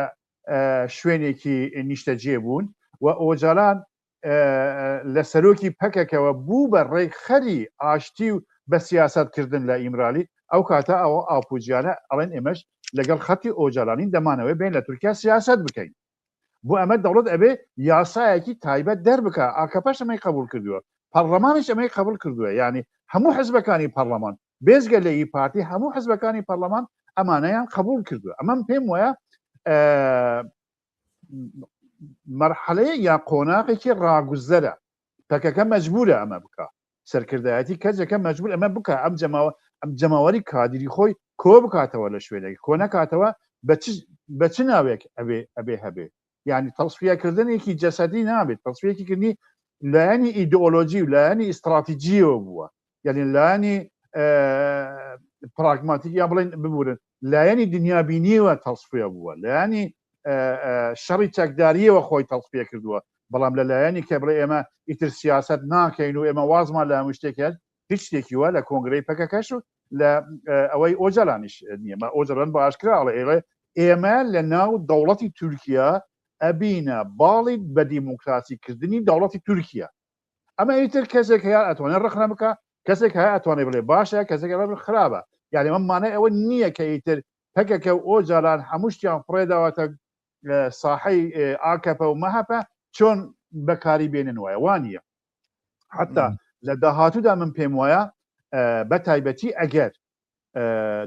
شوێنێکی نیشتەجێ بوون و ئۆجالان لە سەرۆکی پەکەکەوە بوو بە ڕێی خەری ئاشتی و بە سیاستکردن لە ئیمرالی ئەو کاتە ئەوە ئاپوجیانە ئەڵێن ئێمەش لەگەڵ خەتی ئۆجالانی دەمانەوەی بین لە تورکیا سیاست بکەین بۆ ئەمە دەوڵەت ئەبێ یاسایەکی تایبەت دەربکە ئاکەپەش ئەمەی قبول کردووە پەرلەمانش ئەمەی قبول کردووە یعنی هەموو حزبەکانی پەرلەمان بێزگە لە ئی پارتی هەموو حزبەکانی پەرلەمان ئەمانەیان قبول کردووە ئەمەم پێم وایە مەرحەلەیە یا قۆناغێکی ڕاگوزەرە پەکەکە مەجبورە ئەمە بکا سەرکردایەتی کەجەکە مەجبور ئەمە بکە ئەم جەماوە ئەم جەماوەری کادری خۆی کۆ بکاتەوە لە شوێنێک کۆ نەکاتەوە بە چ ناوێک ئەبێ ئەبێ هەبێ یعنی تەڵسفیاکردنێکی جەسەدی نابێت تەڵسفیەکی کردنی لایەنی ئیدۆلۆژی و لایەنی ئیستراتیجیەوە بووە یعنی لایەنی پراگماتیک یا بڵین ببورن لایەنی دنیابینیەوە تەڵسفێ بووە لایەنی شەڕی چەکداریەوە خۆی تەڵسپێ کردووە بەڵام لە لایەنی کە بڵێ ئێمە ئیتر سیاست ناکەین و ئێمە وازمان لە هەموو شتێکێت هیچ شتێکی وە لە کۆنگرەی پەکەکەش و لە ئەوەی ئۆجالانیش نییە مە ئۆجرن بە ئاشکراڵە ئێڵێ ئێمە لە ناو دەوڵەتی تورکیا ئەبینە باڵی بە دیموکراسی کردنی دەوڵەتی تورکیا ئەمە ئیتر کەسێک هەیە ئەتوانێت ڕخنە بکە کەسێک هەیە ئەتوانێت بڵێ باشە کەسێک خراپە یاێ ئەمە مانای ئەوە نییە کە ئیتر پەکەکە و ئۆجاران هەموو شتیان فڕێداواتە ساحەی ئاکەپە و مەهەپە چۆن بەکاری بێنن وایە وانە حتا لە داهاتوودا من پێم وایە بە تایبەتی ئەگەر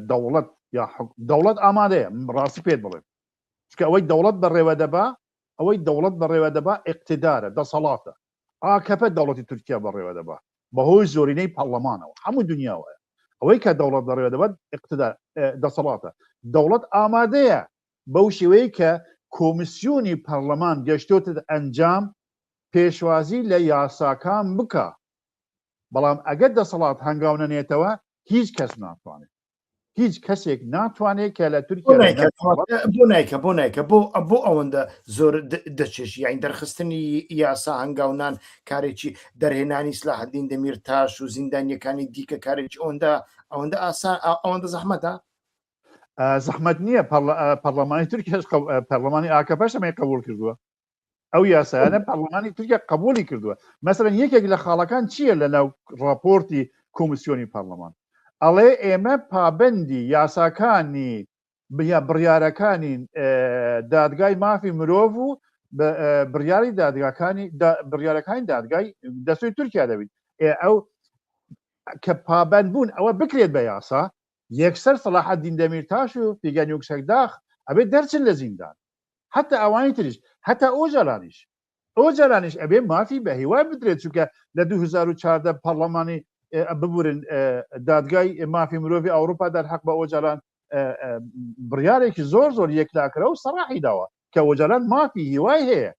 دەوڵەت یا دەوڵەت ئامادەیە ڕاستی پێت بڵێن چکە ئەوەی دەوڵەت بەڕێوە دەبا ئەوەی دەوڵەت بەڕێوە دەبا ئیقتیدارە، دەسەڵاتە. ئاکەپە دەوڵەتی تورکیا بەڕێوە دەبا بەهۆی زۆرینەی پەڕڵەمانەوە. هەموو دونیا وایە. ئەوەی کە دەوڵەت بەڕێوە دەبات ئیقتیدار، دەسەڵاتە. دەوڵەت ئامادەیە بەو شێوەیەی کە کۆمیسیۆنی پەڕڵەمان گەشتۆتە ئەنجام پێشوازی لە یاساکان بکا. بەڵام ئەگەر دەسەڵات هەنگاو نەنێتەوە هیچ کەس ناتوانێ. هیچ کەسێک ناتوانێت کە لە تورکیا بۆ نایکە بۆ نایکە بۆ بۆ ئەوەندە زۆر دەچێش یاین دەرخستنی یاسا هەنگاونان کارێکی دەرهێنانی سلاحدین دەمیر تاش و زیندانیەکانی دیکە کارێکی ئەوەندە ئەوەندە ئاسان ئەوەندە زەحمەتە زەحمەت نییە پەرلەمانی تورکیش پەرلەمانی ئاکە بەشەمەی قبول کردووە ئەو یاسایانە پەرلەمانی تورکیا قبولی کردووە مەسەرەن یەکێک لە خاڵەکان چییە لە ناو ڕاپۆرتی کۆمسیۆنی پەرلەمان ئەڵێ ئێمە پابندی یاساکانی بیا بڕیارەکانی دادگای مافی مرۆڤ و بڕیاری دادگاکانی بڕیارەکانی دادگای دەستوی تورکیا دەبیت ئەو کە پابند بوون ئەوە بکرێت بە یاسا یەکسەر سەلاحە دیندەمیر تاش و پیگەنیوکسەکداخ ئەبێت دەرچن لە زیندان حتا ئەوانی تریش هەتا ئۆجالانیش ئۆجالانیش ئەبێ مافی بە هیوای بدرێت چونکە لە 2014 پەرلەمانی ببورن دادگای مافی مرۆڤی ئەوروپا دەر حەق بە ئۆجالان بڕارێکی زۆر زۆر یەکلاکرە و سەراحی داوە کە ئۆجالان مافی هیوای هەیە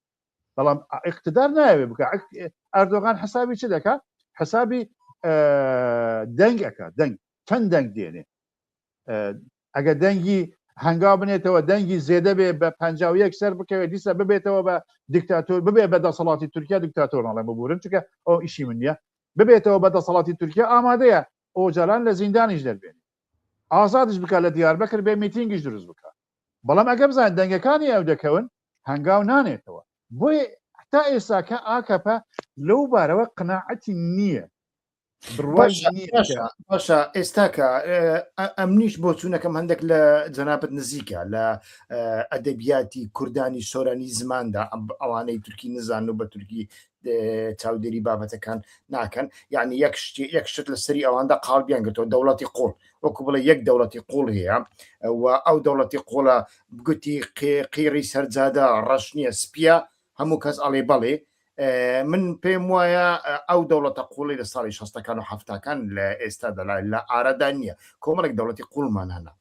بەڵام اقتدار ناوێ بکە ئەردۆغان حسابی چ دەکات حسابی دەنگ ئەکات دەنگ چەند دەنگ دێنێ ئەگە دەنگی هەنگاو بنێتەوە دەنگی زێدە بێ بە پ یەک سەر بکەوێت دیسە ببێتەوە بە دیکتاتۆر ببێ بە دەسەڵاتی تورکیا دیکتاتۆر ناڵێ ببورن چکە ئەو ئیشی من نیە ببێتەوە بە دەسەڵاتی تورکیا ئامادەیە ئۆجالان لە زیندانیش دەربێن ئازادش بکە لە دیار بەکر بێ میتینگیش دروست بکە بەڵام ئەگە بزان دەنگەکانی ئەو دەکەون هەنگاو نانێتەوە بۆی تا ئێساکە ئاکەپە لەو بارەوە قناعەتی نییە باشە ئێستاکە ئەمنیش بۆ چوونەکەم هەندێک لە جەنابەت نزیکە لە ئەدەبیاتی کوردانی سۆرانی زماندا ئەوانەی تورکی نزان و بە تورکی چاودێری بابەتەکان ناکەن یعنی یەک شتی یەک شت لە سەری ئەواندا قاڵبیان گرتەوە دەوڵەتی قۆڵ وەکو بڵێ یەک دەوڵەتی قوڵ هەیە و ئەو دەوڵەتی قۆڵە گوتی قیڕی سەرجادە ڕەش نییە سپیە هەموو کەس ئەڵێ بەڵێ. من پێم وایە ئەو دەوڵەتە قوڵی لە ساڵی شەستەکان و حەفتاکان لە ئێستا دەلا لە ئارەدا نییە کۆمەڵێک دەوڵەتی قوڵمان هەنا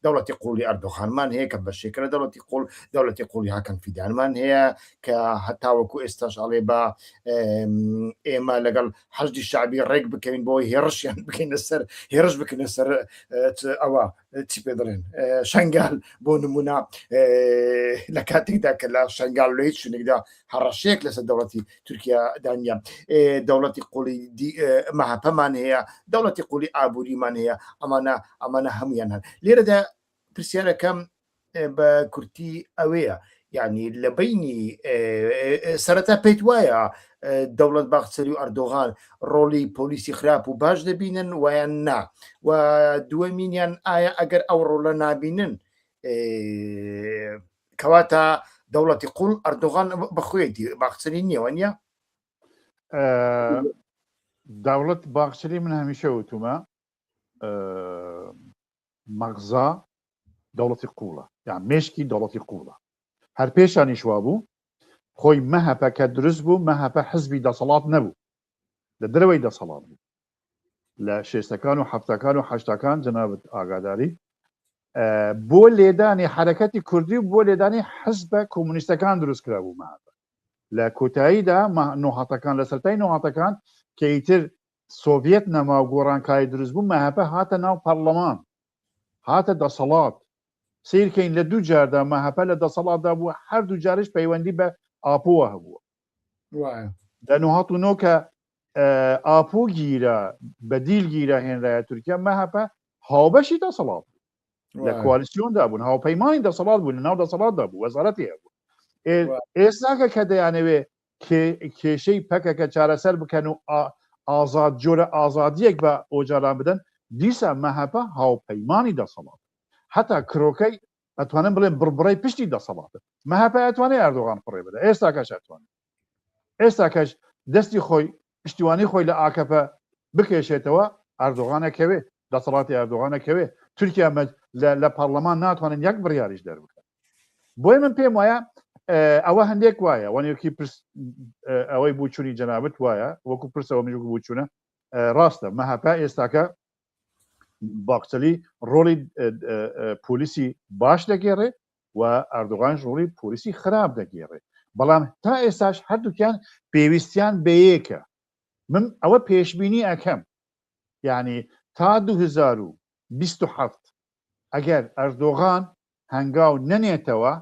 دەوڵەتی قوڵی ئەردۆخانمان هەیە کە بەشێکە لە دەوڵەتی قوڵ دەوڵەتی قوڵی هاکەن فیدانمان هەیە کە هەتاوەکو ئێستاش ئەڵێ بە ئێمە لەگەڵ حەزدی شعبی ڕێک بکەین بۆی هێڕشیان بکەینە سەر هێرش بکەنە سەر ئەوە چی پێ دەڵێن شنگال بۆ نمونە لە کاتێکدا کە لە شنگال لە هیچ شوێنێکدا هەڕەشەیەک لەسەر دەوڵەتی تورکیا دانیە دەوڵەتی قوڵی مەهپەمان هەیە دەوڵەتی قولی ئابووریمان هەیە ئەمانە ئەمانە هەمویان هەن لێرەدا پرسیارەکەم بە کورتی ئەوەیە یعنی لە بینی سەرەتا پێیت وایە دەوڵەت باخچەری و ئەردۆغان ڕۆڵی پۆلیسی خراپ و باش دەبینن وایان نا و دووەمینیان ئایا ئەگەر ئەو ڕۆڵە نابینن کەواتە دەوڵەتی قوڵ ئەردۆغان بەخوێتی باخچەری نیەوە نیە داوڵەت باخچری من هەمیشە وتومە مەغزا دەوڵەتی قوڵە یان مێشکی دەوڵەتی قوڵە هەر پێشانیش وابوو خۆی مەهەپە کە دروست بوو مەهەپە حزبی دەسەڵات نەبوو لە دەرەوەی دەسەڵات بوو لە شێستەکان و حفتەکان و حشتەکان جەنابەت ئاگاداری بۆ لێدانی حرەکەتی کوردی و بۆ لێدانی حزبە کۆمونیستەکان دروست کرا بوو مەهەپە لە کۆتاییدا نۆهاتەکان لە سەرای نۆهاتەکان کە ئیتر سۆڤیەت نەما و گۆڕانکاری دروست بوو مەهەپە هاتە ناو پەڕڵەمان هاتە دەسەڵات سەیر کەین لە دوو جاردا مەهەپە لە دەسەڵاتدا بووە هەر دوو جارش پەیوەندی بە ئاپۆوە هەبووە وایە لە نۆ هەتو نۆ کە ئاپۆ گیرا بە دیل گیرا هێنرایە تورکیا مەهەپە هاوبەشی دەسەڵات لە کوالیسیۆندا بوون هاوپەیمانی دەسەڵات بوون لە ناو دەسەڵاتدا بوو وەزارەتی هەبوو ئێستاکە کە دەیانەوێ کێشەی پەکەکە چارەسەر بکەن و ئازاد جۆرە ئازادیەک بە ئۆجالان بدەن دیسا مەهەپە هاوپەیمانی دەسەڵاتە هەتا کرۆکەی ئەتوانم بڵێن بڕبڕەی پشتی دەسەڵاتە مەهەپە ئەتوانێ ئەردۆغان فڕێ بدە ئێستاکەش ئەتوانێت ئێستاکەش دەستی خۆی پشتیوانی خۆی لە ئاکەپە بکێشێتەوە ئەردۆغانەکەوێت دەسەڵاتی ئەردۆغان ئەکەوێ تورکیا لە پەرلەمان ناتوانن یەک بڕیاریش دەربکەن بۆی من پێم وایە ئەوە هەندێک وایە وەنێکی پرس ئەوەی بچووی جەنابەت وایە وەکو پرسەوە مژ بچوونە ڕاستە مەهاپا ئێستاکە باکچەلی ڕۆلی پۆلیسی باش دەگێڕێ و ئەردوغانش ڕۆلی پۆلیسی خراپ دەگێڕێ بەڵام تا ئێستاش هەردووکیان پێویستیان بەیەکە من ئەوە پێشببینی ئەەکەم یانی تا دوو هەزار و بیست و حەفت ئەگەر ئەردۆغان هەنگاو نەنێتەوە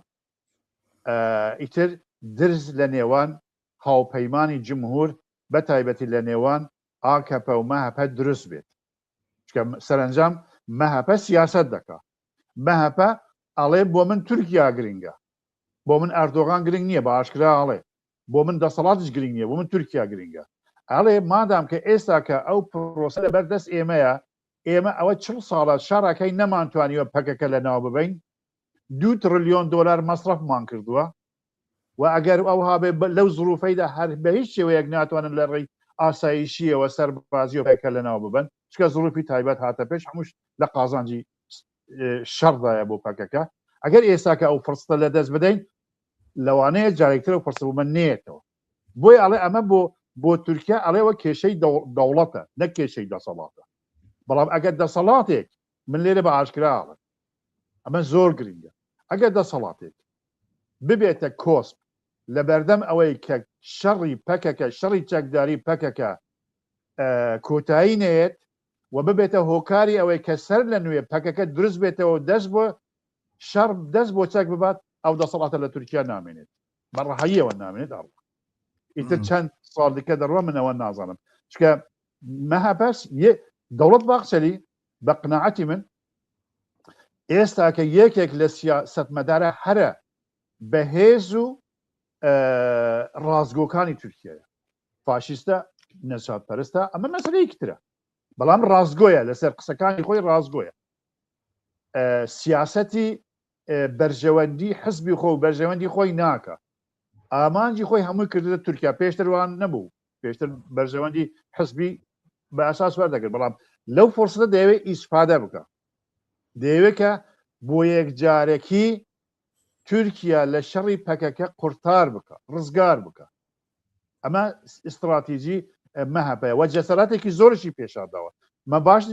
ئیتر درز لە نێوان هاوپەیمانی جمهور بە تایبەتی لە نێوان ئاکەپە و مەهەپە دروست بێت چکە سەرەنجام مەهەپە سیاست دەکا مەهەپە ئەڵێ بۆ من تورکیا گرنگە بۆ من ئەردۆغان گرنگ نییە بە ئاشکرا ئەڵێ بۆ من دەسەڵاتش گرنگ نیە بۆ من تورکیا گرنگە ئەڵێ مادام کە ئێستا کە ئەو پرۆسە لە بەر دەست ئێمەیە ئێمە ئەوە چ ساڵە شاراکەی نەمانتوانیوە پەکەکە لە ناو ببین دو تڕلیۆن دلار مەسرفمان کردووە و ئەگەر ئەو هاێ لەو زروفەیدا هەر بە هیچ شێوەیەک ناتوانن لە ڕێی ئاسایشیەوە سەر بازیۆپێکە لە ناو ببن چکە زروفی تایبەت هاتە پێش هەمووش لە قازانجی شەڕدایە بۆ پەکەکە ئەگەر ئێساکە ئەو فرستە لە دەست بدەین لەوانەیە جارێکترەوە پرسبوومە نێتەوە بۆی ئەڵێ ئەمە بۆ بۆ تورکیا ئەڵێەوە کێشەی دەوڵەتە نەک کێشەی دەسەڵاتە بەڵام ئەگەر دەسەڵاتێک من لێرە بە ئاشکراوە ئەمە زۆر گرنگە ئەگەر دەسەڵاتێک ببێتە کۆسپ لە بەردەم ئەوەی کە شەڕی پەکەکە شەڕی چەکداری پەکەکە کۆتایی نەیەت و ببێتە هۆکاری ئەوەی کە سەر لە نوێ پەکەکە دروست بێتەوە و دەست بۆ شەڕ دەست بۆ چەک ببات ئەو دەسەڵاتە لە تورکیا نامێنێت بە ڕەهاییەوە نامێنێت ئەڕوا ئیتر چەند ساڵ دیکە دەڕوا من ئەوە نازانم چکە مەهاپەرس دەوڵەت باخچەلی بە قناعەتی من ئێستاکە یەکێک لە سیاسەتمەدارە هەرە بەهێز و ڕاستگۆکانی تورکیایە فاشیستە نەجات پەرستە ئەمە مەسلەیەکی ترە بەڵام ڕاستگۆیە لەسەر قسەکانی خۆی ڕاستگۆیە سیاسەتی بەرژەوەندی حزبی خۆ و بەرژەوەندی خۆی ناکە ئامانجی خۆی هەمووی کردە تورکیا پێشتروان نەبوو پێشتر بەرژەوەندی حزبی بە ئاساس وەر دەکرد بەڵام لەو فرسەتە دەیەوێت ئیسفادە بکە دەیەوێت کە بۆ یەک جارێکی تورکیا لە شەڕی پەکەکە قورتار بکە ڕزگار بکە ئەمە ئیستراتیجی مەهەپەیە وە جەسەراتێکی زۆرشی پێشانداوە مە باش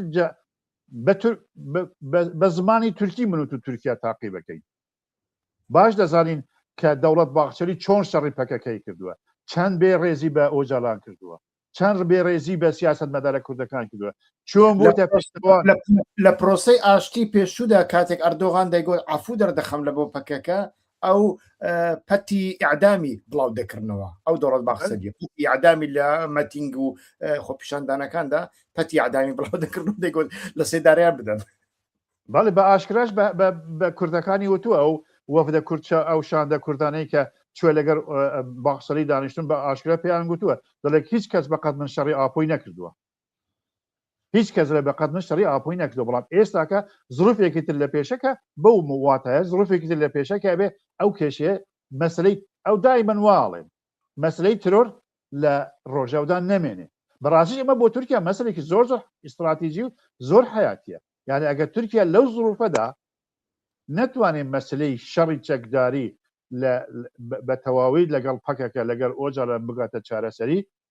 بە زمانی تورکی منوت و تورکیا تاقی بەکەین باش دەزانین کە دەوڵەت باخچەری چۆن شەڕی پەکەکەی کردووە چەند بێ ڕێزی بە ئۆجالان کردووە چەند بێ ڕێزی بە سیاست مەدارە کوردەکان کردووە چۆن بۆ لە پرۆسی ئاشتی پێشودا کاتێک ئەردۆغان دەیگوت ئافو دەردەخەم لە بۆ پەکەکە ئەو پەتی ئعدامی بڵاو دەکردنەوە ئەو دەڵەت باخسەدی یادامی لە مەتینگ و خۆپیشاندانەکاندا پەتی ئادامی بڵاو دەکردن دەگوت لە سێداریان بدەن بەڵێ بە ئاشکراش بە کوردەکانی وتووە ئەو وەفدە کوردچە ئەو شاندە کوردانەی کە چوە لەگەر باخسەری دانیشتن بە ئاشکرا پێیان گوتووە دەڵێک هیچ کەس بەقەت من شەڕی ئاپۆی نەکردووە هیچ کەس لە بەقەت من شەڕی ئاپۆی نەکردو بەڵام ئێستاکە زروفێکی تر لە پێشەکە بەو واتایە زروفێکی تر لە پێشەکە بێ ئەو کێشەیە مەسلەی ئەو دای من واڵێن مەسلەی ترۆر لە ڕۆژەودا نەمێنێ بەڕاستی ئەمە بۆ تورکیا مەسلێکی زۆر زۆر ئیستراتیژی و زۆر حیاتە یعنی ئەگەر تورکیا لەو زروفەدا نەتوانێت مەسلەی شەڕی چەکداری بە تەواوی لەگەڵ پەکەکە لەگەڵ ئۆجا لە بگاتە چارەسەری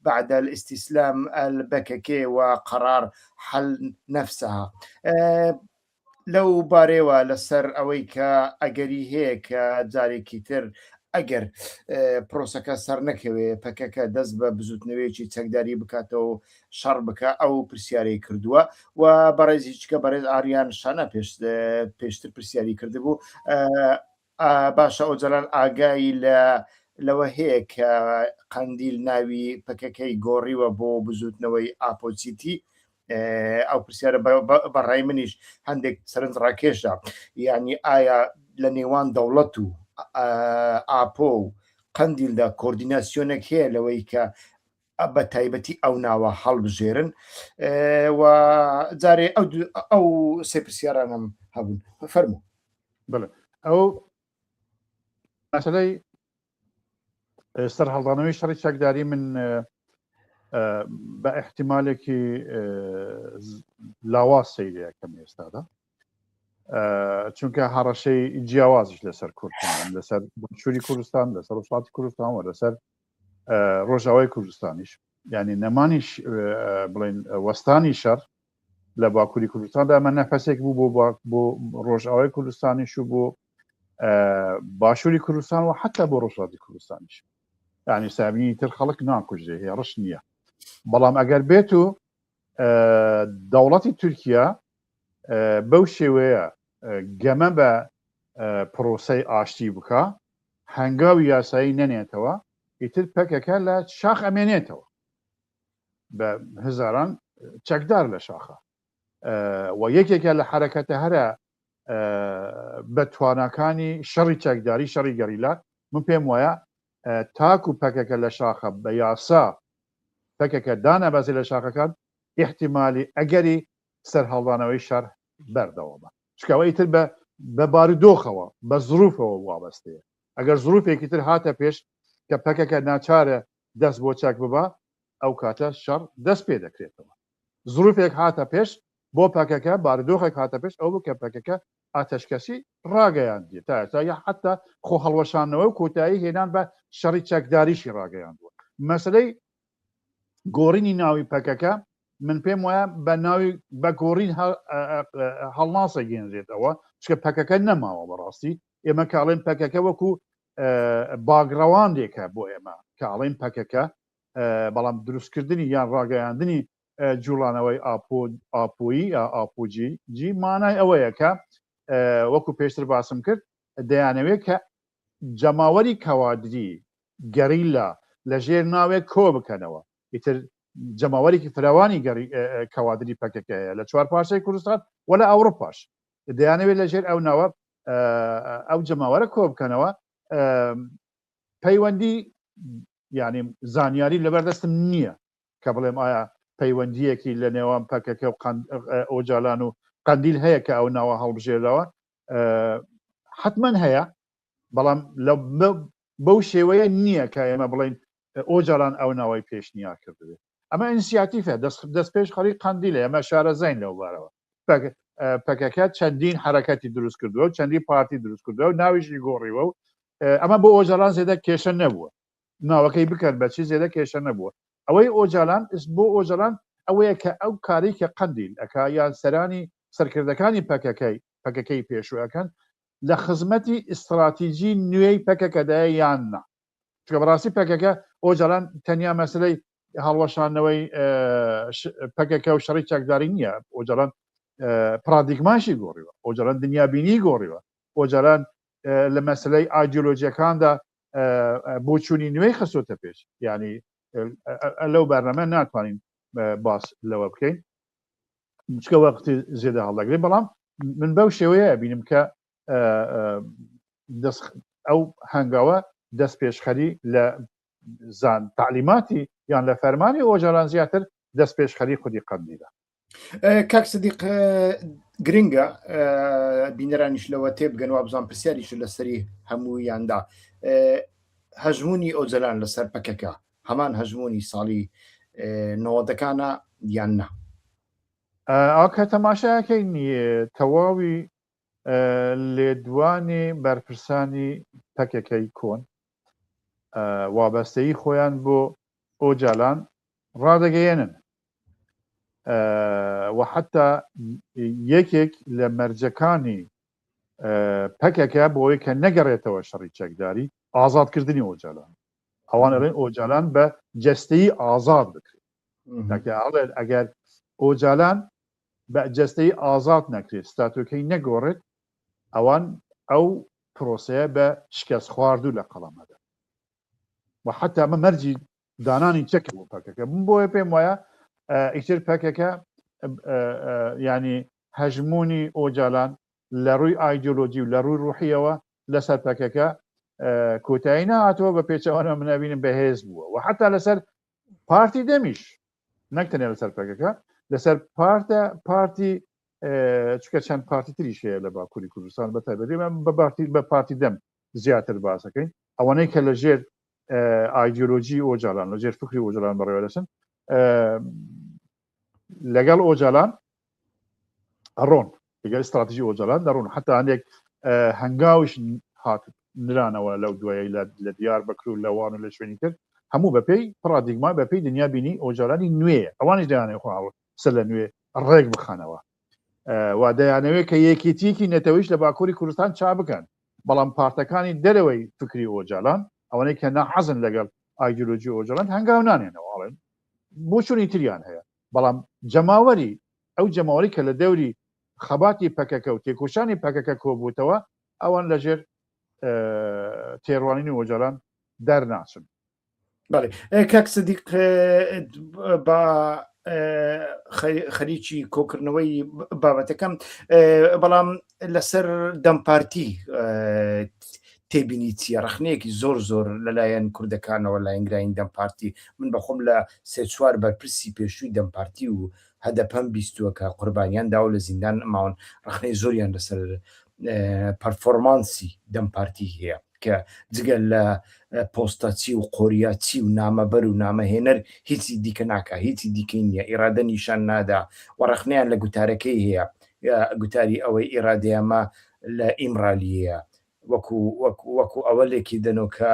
بعد الاستسلام البکک و قرار حل نفسها لەو بارەیەوە لەسەر ئەوەی کە ئەگەری هەیە کە جارێکی تر ئەگەر پرۆسەکە سەرنەکەوێ پەکەکە دەست بە بزوتنەوەیەکی چەکداری بکاتەوە و شەڕ بکە ئەو پرسیارەی کردووە و بەڕێزیچکە بەڕێز ئاریان شانە پێش پێشتر پرسیاری کردبوو باشە ئۆجەلان ئاگای لەوە هەیە کە قەندیل ناوی پەکەکەی گۆڕیوە بۆ بزوتنەوەی ئاپۆچیتی؟ ئەو پرسیارە بەڕای منیش هەندێک سەرنج ڕاکێشە یعنی ئایا لە نێوان دەوڵەت و ئاپۆ و قەندیلدا کۆردیناسیۆنێک هەیە لەوەی کە بە تایبەتی ئەو ناوە هەڵبژێرن و جارێ ئەو سێ پرسیارانم هەبوون فەرمو ئەو مەسلەی سەر هەڵدانەوەی شەڕی چەکداری من بە احتیمالێکی لاوا سەیرەکەم ئێستادا چونکە هەڕەشەی جیاوازش لەسەر کوردستان لەسەر چوری کوردستان لەسەر وڵاتی کوردستان و لەسەر ڕۆژاوای کوردستانیش ینی نەمانیش بڵین وەستانی شەڕ لە باکووری کوردستاندا ئەمە نەفەسێک بوو بۆ بۆ ڕۆژاوای کوردستانیش و بۆ باشووری کوردستان و حتا بۆ ڕۆژاتی کوردستانیش ینی سابینی تر خەڵک ناکوژێ هێڕش نییە بەڵام ئەگەر بێت و دەوڵەتی تورکیا بەو شێوەیە گەمە بە پرۆسی ئاشتی بکە هەنگاوی یاسایی نەنێتەوە ئیتر پەکەکە لە شاخ ئەمێنێتەوە بە هزاران چەکدار لە شاخە و یەکێکە لە حرەکەتە هەرە بە تواناکانی شەڕی چەکداری شەڕی گەریلا من پێم وایە تاک و پەکەکە لە شاخە بە یاسا پەکەکە دانابازی لە شاخەکان احتیممالی ئەگەری سەرهاڵدانەوەی شەر بەردەوامە چکاوەی تر بە بە بارودۆخەوە بە زروفەوە وابەستەیە ئەگەر زروفێکی تر هاتە پێش کە پەکەکە ناچارە دەست بۆ چەک ببا ئەو کاتە شەڕ دەست پێ دەکرێتەوە زروفێک هاتە پێش بۆ پەکەکە باردۆخێک هاتە پێش ئەو بکە پەکەکە ئاتەشکەسی ڕاگەیاندی تا ئێستا یا حتا خۆ هەڵوەشانەوە و کۆتایی هێنان بە شەڕی چەکداریشی ڕاگەیاندووە مەسلەی گۆڕینی ناوی پەکەکە من پێم وایە بە ناوی بە گۆڕین هەڵناسە گەێنرێتەوە چکە پەکەکە نەماوە بەڕاستی ئێمە کاڵێن پەکەکە وەکو باگڕەواندێکە بۆ ئێمە کاڵین پەکەکە بەڵام دروستکردنی یان ڕاگەیاندنی جوڵانەوەی ئاپۆ ئاپۆیی ئاپۆجی جی مانای ئەوەیە کە وەکو پێشتر باسم کرد دەیانەوێت کە جەماوەری کەوادری گەریلا لە ژێر ناوێک کۆ بکەنەوە، ئیتر جەماوەرێکی فراوانی کەوادری پەکەکە هەیە لە چوار پارچەی کوردستان و لە ئەوڕوپاش دەیانەوێت لە ژێر ئەو ناوە ئەو جەماوەرە کۆ بکەنەوە پەیوەندی ینی زانیاری لەبەردەستم نییە کە بڵێم ئایا پەیوەندیەکی لە نێوان پەکەکە و ئۆجالان و قندیل هەیە کە ئەو ناوە هەڵبژێرەوە حتمما هەیە بەڵام لە بەو شێوەیە نییە کە ئێمە بڵێین ئۆجالان ئەو ناوەی پێشنیار کردبێت. ئەمە ئینسیاتیفە دەستپێشخەری قەندیلە، ئێمە شارەزاین لەو بارەوە. پەکەکە چەندین حەرەکەتی دروست کردووە و چەندین پارتی دروست کردووە و ناویشی گۆڕیوە و ئەمە بۆ ئۆجالان زێدە کێشە نەبووە. ناوەکەی بکەن بە چی زێدە کێشە نەبووە. ئەوەی ئۆجالان بۆ ئۆجالان ئەوەیە کە ئەو کارەی کە قەندیل ئەکا یان سەرانی سەرکردەکانی پەکەکەی پەکەکەی پێشوو ئەکەن لە خزمەتی ئیستڕاتیجی نوێی پەکەکەدایە یان نا، چونکە بەڕاستی پەکەکە ئۆجالان تەنیا مەسەلەی هەڵوەشاندنەوەی پەکەکە و شەڕی چەکداری نییە، ئۆجالان پڕادیگماشی گۆڕیوە، ئۆجالان دنیابینی گۆڕیوە، ئۆجالان لە مەسەلەی ئایدیۆلۆجیەکاندا بۆچوونی نوێی خستۆتە پێش، یانی لەو بەرنامە ناتوانین باس لەوە بکەین، چکە وەختی زێدە هەڵدەگرێ بەڵام من بەو شێوەیە بینم کە ئەو هەنگاوە دەست پێشخەری لە زان تعلیماتی یان لە فەرمانی ئۆجاران زیاتر دەست پێشخەری خودی قەندیدا کاک سدیق گرنگە بینەرانیش لەوە تێبگەن وابزان پرسیاریش لەسەری هەموویاندا هەژمونی ئۆجلان لەسەر پەکەکە هەمان هەژموونی ساڵی نەوەدەکانە یان نا؟ ئاکە تەماشاکەین تەواوی لێدوانی بەرپرسانی پەکەکەی کۆن وابەستەی خۆیان بۆ ئۆجالان ڕادەگەیەنن وحتا یەکێک لە مەرجەکانی پەکەکە بۆی کە نەگەڕێتەوە شەڕی چەکداری ئازادکردنی ئۆجالان ئەوان ئەڵێن ئۆجالان بە جەستەیی ئازاد بکرێت. تاکە ئەڵێن ئەگەر ئۆجالان بە جەستەیی ئازاد نەکرێت، ستاتۆکەی نەگۆڕێت، ئەوان ئەو پرۆسەیە بە شکەست خواردوو لە قەڵەم ئەدەن و حەتا ئەمە مەرجی دانانی چەکە بۆ پەکەکە بوون. بۆیە پێم وایە ئیتر پەکەکە ینی هەژموونی ئۆجالان لە ڕووی ئایدیۆلۆجی و لە ڕووی ڕوحییەوە لەسەر پەکەکە کۆتایی نەهاتەوە بە پێچەوانە من ئەبینم بەهێز بووە و حتا لەسەر پارتی دەمیش نەک تەنێ لەسەر پەکەکە لەسەر پارتە پارتی چکە چەند پارتی تریش هەیە لە باکووری کوردستان بە تایبەتێمە بە بارتی بە پارتی دەم زیاتر باسەکەین ئەوانەی کە لە ژێر ئایدیۆلۆژی ئۆجالان لە ژێر فکری ئۆجلان بەڕێوەدەچن لەگەڵ ئۆجالان ئەڕۆن لەگەڵ استراتیژی ئۆجالان دەڕون حتا هەندێک هەنگاوش هات نرانەوە لەو دوای لە دیار بەکر و لەوان و لە شوێنی تر هەموو بەپی پرادیگما بەپی دنیا بینی ئۆجارانی نوێ ئەوانش دەیانێ خۆ سەر لە نوێ ڕێک بخەنەوە وا دەیانەوێت کە یەکێتیەکی نەتەوەیش لە باکووری کوردستان چا بکەن بەڵام پارتەکانی دەرەوەی فکری ئۆجالان ئەوەنەی کە ناحەزن لەگەڵ ئایدۆلۆژی ئۆجلند هەنگاو نانێنەوەڵێن بۆچونی تریان هەیە بەڵام جەماوەری ئەو جەماوەری کە لە دەوری خەباتی پەکەکە و تێکۆشانی پەکەکە کۆبووتەوە ئەوان لە ژێر تێڕوانینی وەجاران دەرناچن بەڵێ کاک سدیق بە خەریکی کۆکردنەوەی بابەتەکەم بەڵام لەسەر دەم پارتی تێبینی چیە ڕخنەیەکی زۆر زۆر لەلایەن کوردەکانەوە لاینگراین دەم پارتی من بەخۆم لە سێ چوار بەرپرسی پێشووی دەم پارتی و هەدەپەم بیستووە کە قوربانیان داو لە زیندان ماون ڕخنەی زۆریان لەسەر پەرفۆرمانسی دەم پارتی هەیە کە جگە لە پۆستە چی و قۆریا چی و نامەبەر و نامەهێنەر هیچی دیکە ناکا هیچی دیکەی نییە ئیرادە نیشان نادا و ڕەخنەیان لە گوتارەکەی هەیە گوتاری ئەوەی ئیرادەیەمە لە ئیمرالیەیە وەکو وەکو وەکو ئەوە لێکی دەنەوە کە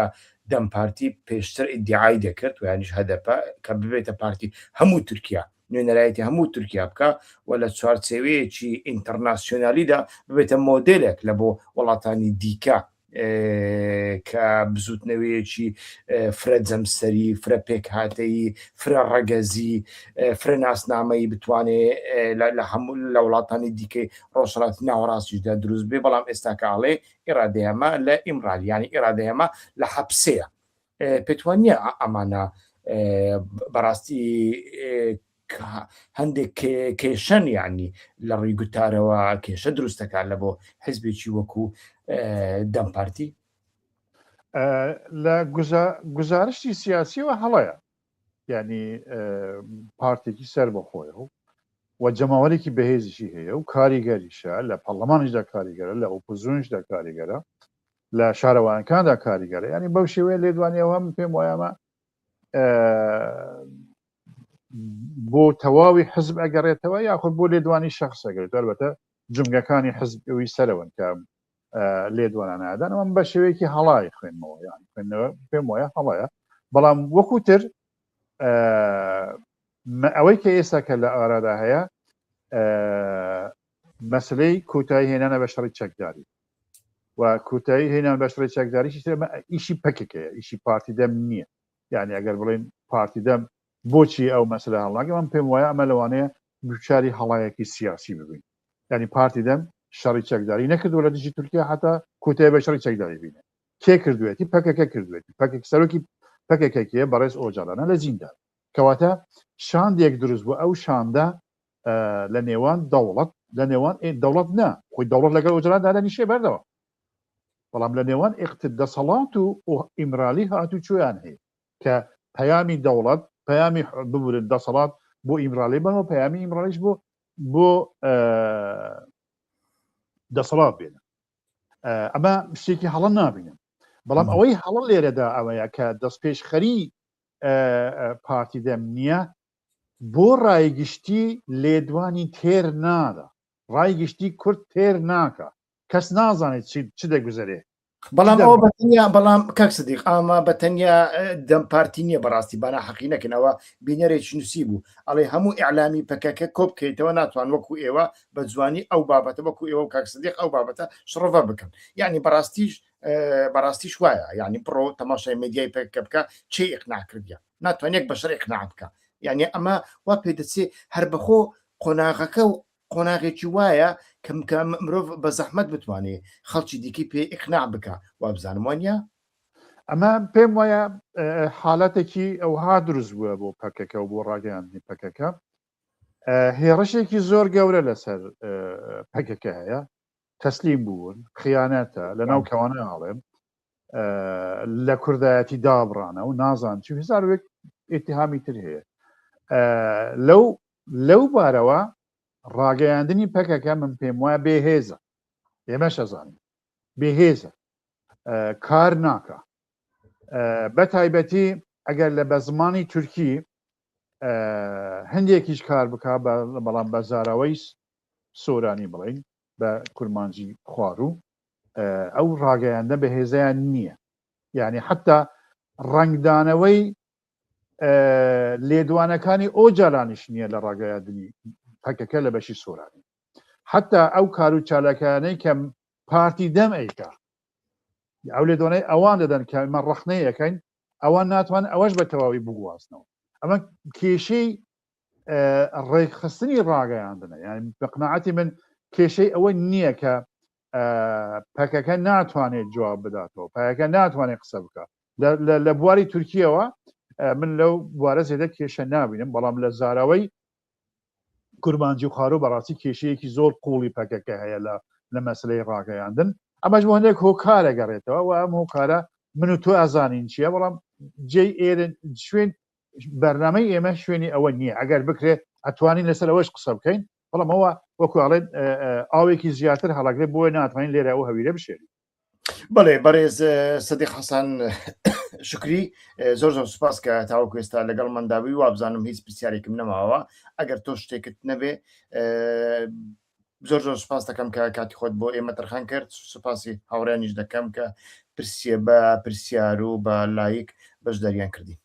دەم پارتی پێشتر ئیدعای دەکرد و یانیش هەدەپە کە ببێتە پارتی هەموو تورکیا نوێنەرایەتی هەموو تورکیا بکا و لە چوارچێوەیەکی ئینتەرناسیۆنالیدا ببێتە مۆدێلێک لە بۆ وڵاتانی دیکە کە بزوتنەوەیەکی فرە جەمسەری فرە پێکهاتەی فرە ڕەگەزی فرە ناسنامەی بتوانێ لە هەموو لە وڵاتانی دیکەی ڕۆژڕات ناوەڕاستیشدا دروست بێ بەڵام ئێستاکەڵێ ئێرادەیەمە لە ئیمرالیانی ئێرادەیەمە لە حەپسەیە پێتوانیە ئەمانە بەڕاستی هەندێک کێشەن یعنی لە ڕووی گوتارەوە کێشە دروستەکان لە بۆ حزبێکی وەکو دەم پارتی لە گزارشتی سیاسیەوە هەڵەیە ینی پارتێکی سەر بە خۆی و و جەماوەێکی بەهێزیشی هەیە و کاریگەریشە لە پەرلەمانیشدا کاریگەرە لە ئۆپۆزیۆنیشدا کاریگەرە لە شارەوانکاندا کاریگەرە ینی بەو شێوەیە لێدوانی ئەوە من پێم وایەمە بۆ تەواوی حزب ئەگەڕێتەوە یاخود بۆ لێدوانی شخصەگەێت دەربەتە جمگەکانی حزب ئەوی سەرەوەن کە لێدوانە نادان ئەم بە شێوەیەکی هەڵای خوێنمەوە یان خوێندنەوە پێم وایە هەڵەیە بەڵام وەکوتر ئەوەی کە ئێستا کە لە ئارادا هەیە مەسەلەی کۆتایی هێنانە بە شەڕی چەکداری و کۆتایی هێنان بە شەڕی چەکداریشی ترمە ئیشی پەکەکەیە ئیشی پارتی دەم نییە یعنی ئەگەر بڵێن پارتی دەم بۆچی ئەو مەسلە هەڵناگە من پێم وایە ئەمە لەوانەیە دوچاری هەڵایەکی سیاسی ببین ینی پارتی دەم شەڕی چەکداری نەکردو لە دژی تورکیا حتا کۆتای بە شەڕی چەکداری بینە کێ کردوێتی پەکەکە کردوێتی پەکەک سەرۆکی پەکەکەکیە بەڕێز ئۆجالانە لە زیندان کەواتە شاندێک دروست بوو ئەو شاندە لە نێوان دەوڵەت لە نێوان دەوڵەت نا خۆی دەوڵەت لەگەڵ ئۆجراندا دەنیشێ بەردەوە بەڵام لە نێوان ئێقتت دەسەڵات و ئیمرالی هاتو چۆیان هەیە کە پەیامی دەوڵەت پەیامی ببورن دەسەڵات بۆ ئیمرالی بەەوە پەیامی ئیمرالیش بۆ بۆ دەسەڵات بێنە ئەمە شتێکی هەڵە نابینم بەڵام ئەوەی هەڵە لێرەدا ئەوەیە کە دەست پێشخەری پارتی دەم نییە بۆ ڕای گشتی لێدوانی تێر نادا ڕای گشتی کورد تێر ناکا کەس نازانێت چ دەگوزەرێ بەڵام ئەوە بەتەنیا بەڵام کاک سدیق ئاما بە تەنیا دەم پارتی نییە بەڕاستی بەنا حەقی نەکەنەوە بینەرێک نووسی بوو ئەڵێ هەموو ئەعلامی پەکەکە کۆ بکەیتەوە ناتوان وەکو ئێوە بە جوانی ئەو بابەتە وەکو ئێوە کاک سدیق ئەو بابەتە شڕڤە بکەن یعنی بەڕاستیش بەڕاستیش وایە یعنی بڕۆ تەماشای مدیای پەکەکە بکە چی ئقناع کردیان ناتوان یەک بەشەر اقناع بکە یعنی ئەمە وا پێ دەچێ هەر بەخۆ قۆناغەکە و قۆناغێکی وایە کەم کە مرۆڤ بە زەحمەت بتوانێ خەڵکی دیکەی پێ اقناع بکە وابزانم وانە ئەمە پێم وایە حالەتێکی ئەوها دروست بووە بۆ پەکەکە و بۆ ڕاگەیاندنی پەکەکە هێڕشێکی زۆر گەورە لەسەر پەکەکە هەیە تەسلیم بوون خیانەتە لە ناو کەوانە ئاڵێم لە کوردایەتی دابڕانە و نازان چ هزار وێک ئتیهامی تر هەیە لەو لەو بارەوە ڕاگەیاندنی پەکەکە من پێم وایە بێهێزە ئێمە شەزانین بێهێزە کار ناکە بە تایبەتی ئەگەر لە بە زمانی تورکی هەندێکیش کار بک بەڵام بە زاراوەی سۆرانی بڵێین بە کورمانجی خواروو ئەو ڕاگەیاندە بەهێزیان نییە یعنی حتا ڕنگدانەوەی لێدوانەکانی ئەو جارانیش نییە لە ڕاگەیاندنی پەکەکە لە بەشی سۆرانی حتا ئەو کار و چالاکانەی کەم پارتی دەم ئەیکا ئەو لێ دۆنەی ئەوان دەدەن کە ئمە ڕخنەیەکەین ئەوان ناتوان ئەوەش بە تەواوی بگوازنەوە ئەمە کێشەی ڕێکخستنی ڕاگەیاندنە یان بە قناعەتی من کێشەی ئەوە نییە کە پەکەکە ناتوانێت جواب بداتەوە پایەکە ناتوانێت قسە بکە لە بواری تورکیەوە من لەو بوارە زێدە کێشە نابینم بەڵام لە زاراوەی کورمانجی و خارو بەڕاستی کێشەیەکی زۆر قوڵی پەکەکە هەیە لە لە مەسلەی ڕاگەیاندن ئەمەش بۆ هەندێک هۆکارە گەڕێتەوە و ئەم هۆکارە من و تۆ ئازانین چییە بەڵام جێ ئێرن شوێن بەرنامەی ئێمە شوێنی ئەوە نییە ئەگەر بکرێت ئەتوانین لەسەر ئەوەش قسە بکەین بەڵام ئەوە وەکو ئەڵێن ئاوێکی زیاتر هەڵاگرێت بۆ ناتوانین لێرە ئەو هەویرە بشێری بڵێ بەڕێز سەدی حەسان شکری زۆر زۆر سوپاس کە تاوەکو ئێستا لەگەڵ منداوی وابزانم هیچ پرسیارێکم نەماوە ئەگەر تۆ شتێکت نەبێ زۆر زۆر سپاس دەکەم کە کاتی خۆت بۆ ئێمە تەرخان کرد سپاسی هاوڕێنیش دەکەم کە پرسیە بە پرسیار و بە لایک بەش دەریان کردی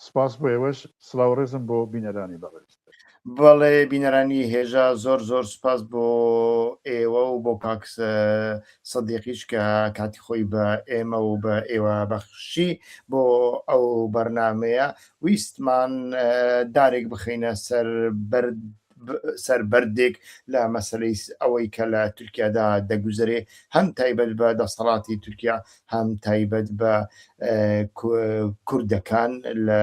سپاس بۆ ئێوەش سلااو ڕێزم بۆ بینەرانی بەڕێز بەڵێ بینەرانی هێژا زۆر زۆر سپاس بۆ ئێوە و بۆ کاکس سەدیقیش کە کاتی خۆی بە ئێمە و بە ئێوە بەخشی بۆ ئەو بەرنمەیە ویستمان دارێک بخینە سەر بەرد سەر بەردێک لە مەسەلەی ئەوەی کە لە تورکیادا دەگوزەرێ هەم تایبەت بە دەسەڵاتی تورکیا هەم تایبەت بە کوردەکان لە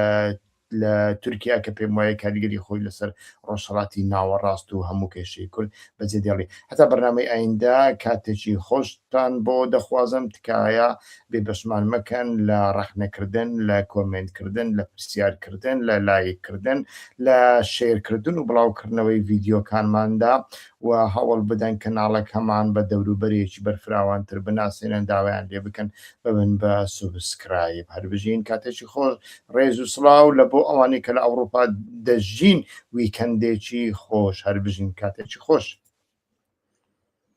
لە تورکیا کە پێم وایە کاریگەری خۆی لەسەر ڕۆژهڵاتی ناوەڕاست و هەموو کێشەی کورد بەجێ دێڵی هەتا بەرنامەی ئایندا کاتێکی خۆشتان بۆ دەخوازم تکایە بێ دەشمان مەکەن لە ڕەخنە کردن لە کۆمێنت کردن لە پرسیار کردن لە لایک کردن لە شەیر کردن و بڵاو کردنەوەی ڤیدیۆکانماندا و هەوڵ بدەن کەناڵەکەمان بە دەورو بەرێکی بەرفراوان تر بناسێنن داوایان لێ بکەن ببن بە سوبسکرایب هەر بژین کاتێکی خۆش ڕێز و سڵاو لە بۆ ئەوانەی کە لە ئەوروپا دەژین ویکەندێکی خۆش هەر بژین کاتێکی خۆش.